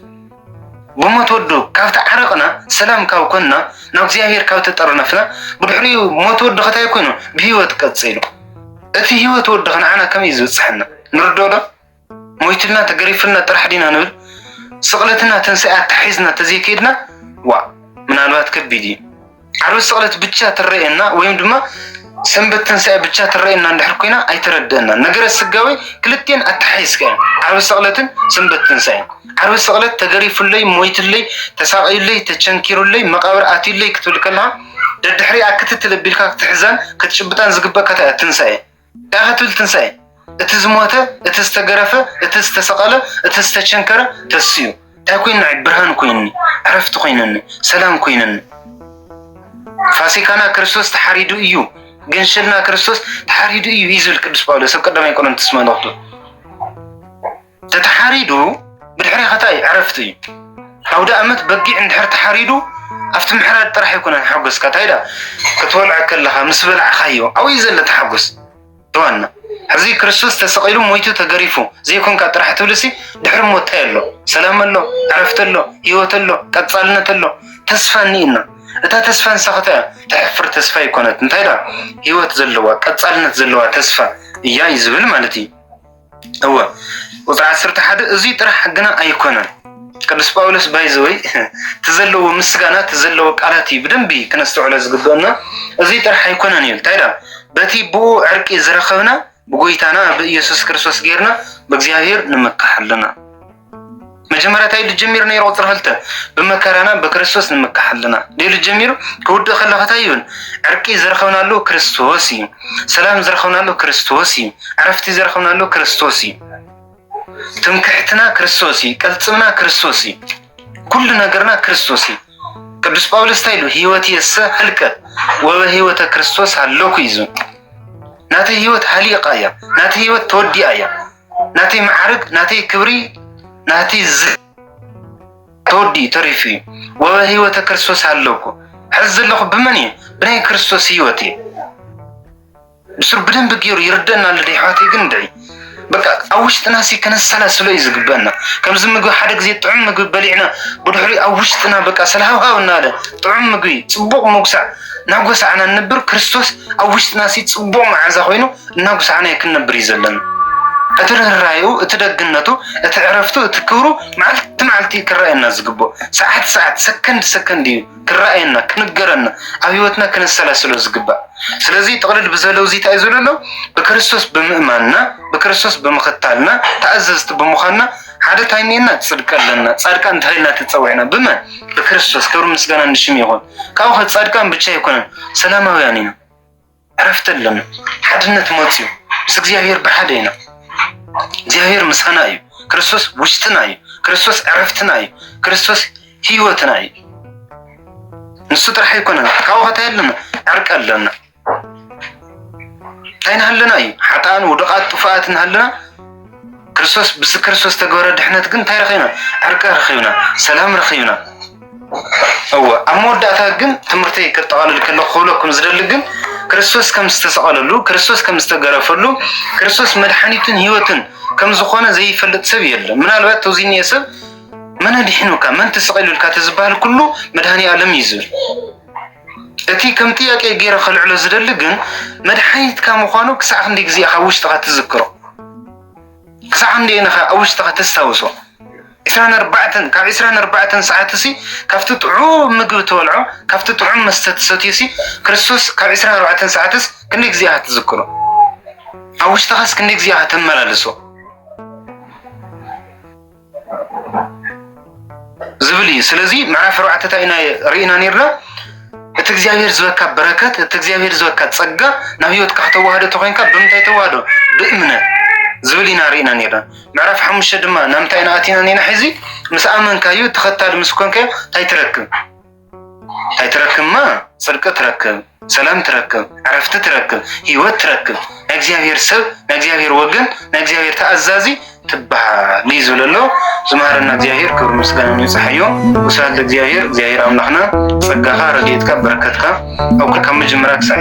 ብሞት ወዱ ካብ ተዓረቕና ሰላም ካብ ኮንና ናብ እግዚኣብሔር ካብ ተጠርነፍና ብድሕሪኡ ሞት ወዱ ከታይ ኮይኑ ብህይወት ቀጺሉ እቲ ህይወት ወዱ ከንዓና ከመይ እዩ ዝበጽሐና ንርድኦ ዶ? ሞይቱልና ተገሪፉልና ጥራሕ ዲና ንብል ስቕለትና ትንሣኤ ኣተሓሒዝና ተዘይከይድና ዋእ ምናልባት ከቢድ እዩ። ዓርቢ ስቕለት ብቻ ትረኤና ወይም ድማ ሰንበት ትንሳኤ ብቻ ትረኤና እንድሕር ኮይና ኣይተረድአና ነገረ ስጋዊ ክልቴን ኣተሓይዝካ እዮም ዓርቢ ስቕለትን ሰንበት ትንሳኤን ዓርቢ ስቕለት ተገሪፉለይ ሞይትለይ ተሳቐዩለይ ተቸንኪሩለይ መቓብር ኣትዩለይ ክትብል ከለኻ ደድሕሪኣ ክትትል ኣቢልካ ክትሕዛን ክትጭብጣን ዝግበእካ ትንሳኤ ዳኣ ክትብል ትንሳኤ እቲ ዝሞተ እቲ ዝተገረፈ እቲ ዝተሰቐለ እቲ ዝተቸንከረ ተስኡ እንታይ ኮይኑ ንዓይ ብርሃን ኮይኑኒ ዕረፍቲ ኮይኑኒ ሰላም ኮይኑኒ ፋሲካና ክርስቶስ ተሓሪዱ እዩ ገንሸልና ክርስቶስ ተሓሪዱ እዩ እዩ ዝብል ቅዱስ ጳውሎስ ኣብ ቀዳማይ ቆሮንቶስ መልእኽቱ ተተሓሪዱ ብድሕሪ ከታይ ዕረፍቲ እዩ ኣውደኣመት በጊዕ እንድሕር ተሓሪዱ ኣብቲ ምሕራድ ጥራሕ ኣይኮነን ሓጎስካ እንታይ ዳ ክትበልዖ ከለኻ ምስ በላዕኻዮ ኣብኡ እዩ ዘሎ ተሓጎስ ዋና ሕዚ ክርስቶስ ተሰቒሉ ሞይቱ ተገሪፉ ዘይኮንካ ጥራሕ ትብልሲ ድሕሪ ሞት እንታይ ኣሎ ሰላም ኣሎ ዕረፍቲ ኣሎ ህይወት ኣሎ ቀጻልነት ኣሎ ተስፋ እኒእና እታ ተስፋ ንሳኸታ እያ ተሕፍር ተስፋ ይኮነት እንታይ ዳ ህይወት ዘለዋ ቀጻልነት ዘለዋ ተስፋ እያ እዩ ዝብል ማለት እዩ እወ ቁፅሪ ዓሰርተ ሓደ እዙይ ጥራሕ ግና ኣይኮነን ቅዱስ ጳውሎስ ባይዘወይ እቲ ዘለዎ ምስጋና እቲ ዘለዎ ቃላት እዩ ብደንቢ ክነስተውዕሎ ዝግበአና እዙይ ጥራሕ ኣይኮነን እዩ እንታይ ዳ በቲ ብኡ ዕርቂ ዝረኸብና ብጎይታና ብኢየሱስ ክርስቶስ ጌርና ብእግዚኣብሔር ንምካሕ ኣለና መጀመርያ እንታይ ኢሉ ጀሚሩ ነይሩ ቁፅሪ ክልተ ብመከራና ብክርስቶስ ንምካሕ ኣለና ኢሉ ጀሚሩ ክውድእ ከሎ ከታይ ይብል ዕርቂ ዝረኸብናሉ ክርስቶስ እዩ ሰላም ዝረኸብናሉ ክርስቶስ እዩ ዕረፍቲ ዝረኸብናሉ ክርስቶስ እዩ ትምክሕትና ክርስቶስ እዩ ቅልፅምና ክርስቶስ እዩ ኩሉ ነገርና ክርስቶስ እዩ ቅዱስ ጳውሎስ እንታይ ኢሉ ህይወት የሰ ህልቀ ወበ ህይወተ ክርስቶስ ሃለኩ እዩ ናተይ ህይወት ሃሊቃ እያ ናተይ ህይወት ተወዲኣ እያ ናተይ መዓርግ ናተይ ክብሪ ናተይ ዝ ተወዲኡ ተሪፉ እዩ ወበህይወተ ክርስቶስ ኣለኩ ሕዚ ዘለኹ ብመን እዩ ብናይ ክርስቶስ ህይወት እዩ ንሱ ብደንብ ገይሩ ይርደና ኣሎ ደሕዋተይ ግን ድዒ በቃ ኣብ ውሽጥና ሲ ከነሰላስሎ እዩ ዝግበና ከምዚ ምግቢ ሓደ ግዜ ጥዑም ምግቢ በሊዕና ብድሕሪ ኣብ ውሽጥና በቃ ስለሃውሃው እናለ ጥዑም ምግቢ ፅቡቅ መጉሳዕ ናጎሳዕና ንብር ክርስቶስ ኣብ ውሽጥና ሲ ፅቡቅ መዓዛ ኮይኑ እናጉሳዕናዮ ክንነብር እዩ ዘለና። እቲ ርህራሄኡ፣ እቲ ደግነቱ፣ እቲ ዕረፍቱ፣ እቲ ክብሩ መዓልቲ መዓልቲ እዩ ክረኣየና ዝግብኦ። ሰዓት ሰዓት፣ ሰከንድ ሰከንድ እዩ ክረኣየና፣ ክንገረና፣ ኣብ ህይወትና ክነሰላስሎ ዝግባእ። ስለዚ ጥቕልል ብዘለ እዚ እንታይ እዩ ዝብሎ ኣሎ? ብክርስቶስ ብምእማንና፣ ብክርስቶስ ብምኽታልና፣ ተኣዘዝቲ ብምዃንና ሓደ እንታይ እኒኤና? ፅድቂ ኣለና። ፃድቃን ተባሂልና ተፀዊዕና። ብመን? ብክርስቶስ። ክብሪ ምስጋና ንሽም ይኹን። ካብኡ ከ ፃድቃን ብቻ ኣይኮነን፣ ሰላማውያን ኢና። ዕረፍቲ ኣሎና፣ ሓድነት መጺኡ ምስ እግዚኣብሔር ብሓደ ኢና። እግዚኣብሔር ምሳና እዩ። ክርስቶስ ውሽጥና እዩ። ክርስቶስ ዕረፍትና እዩ። ክርስቶስ ህይወትና እዩ። ንሱ ጥራሕ ኣይኮነን። ካብኡ ከታይ ኣለና? ዕርቂ ኣለና። እንታይ ንሃለና እዩ? ሓጣን ውድቓት ጥፉኣት ንሃለና ክርስቶስ ብዚ ክርስቶስ ተገበረ ድሕነት ግን እንታይ ረኺብና? ዕርቂ ረኺብና፣ ሰላም ረኺብና። እወ፣ ኣብ መወዳእታ ግን ትምህርተይ ከጠቓልል ከለኹ ክብለኩም ዝደሊ ግን ክርስቶስ ከም ዝተሰቐለሉ፣ ክርስቶስ ከም ዝተገረፈሉ፣ ክርስቶስ መድሓኒትን ህይወትን ከም ዝኾነ ዘይፈልጥ ሰብ የለን። ምናልባት ተዚ እኒኤ ሰብ መን ኣድሒኑካ መን ተሰቒሉልካ ተዝበሃል ኩሉ መድሃኒ ኣለም እዩ ዝብል። እቲ ከም ጥያቄ ገይረ ከልዕሎ ዝደሊ ግን መድሓኒትካ ምዃኑ ክሳዕ ክንደይ ግዜ ኢኻ ውሽጥኻ ትዝክሮ? ክሳዕ ክንደይ ኢኻ ኣብ ውሽጥኻ ተስታውሶ? ዕስራን ኣርባዕተን ካብ ዕስራን ኣርባዕተን ሰዓትሲ ካብቲ ጥዑም ምግቢ ትበልዖ ካብቲ ጥዑም መስተ ትሰትዮሲ ክርስቶስ ካብ ዕስራን ኣርባዕተን ሰዓትስ ክንደይ ግዜ ኢኻ ትዝክሮ? ኣብ ውሽጥኻስ ክንደይ ግዜ ኢኻ ተመላልሶ? ዝብል እዩ ስለዚ ምዕራፍ ኣርባዕተ እንታይ ኢና ርኢና ነርና እቲ እግዚኣብሔር ዝበካ በረከት እቲ እግዚኣብሔር ዝበካ ፀጋ ናብ ህይወትካ ከተዋህዶ ተኮይንካ ብምንታይ ተዋህዶ ብእምነት ዝብል ኢና ርኢና ነርና ምዕራፍ ሓሙሽተ ድማ ናብ እንታይ ኢና ኣቲና ነርና ሕዚ ምስ ኣመንካዩ ተኸታሊ ምስ ኮንካዮ እንታይ ትረክብ እንታይ ትረክብማ ጽድቂ ትረክብ ሰላም ትረክብ ዕረፍቲ ትረክብ ህይወት ትረክብ ናይ እግዚኣብሔር ሰብ ናይ እግዚኣብሔር ወገን ናይ እግዚኣብሔር ተኣዛዚ ትበሃል እዩ ዝብል ኣሎ ዝመሃረና እግዚኣብሔር ክብሪ ምስጋና ንብፅሓዮ ወስብሐት ለእግዚኣብሔር እግዚኣብሔር ኣምላኽና ጸጋኻ ረድኤትካ በረከትካ ኣብ ካብ መጀመርያ ክሳዕ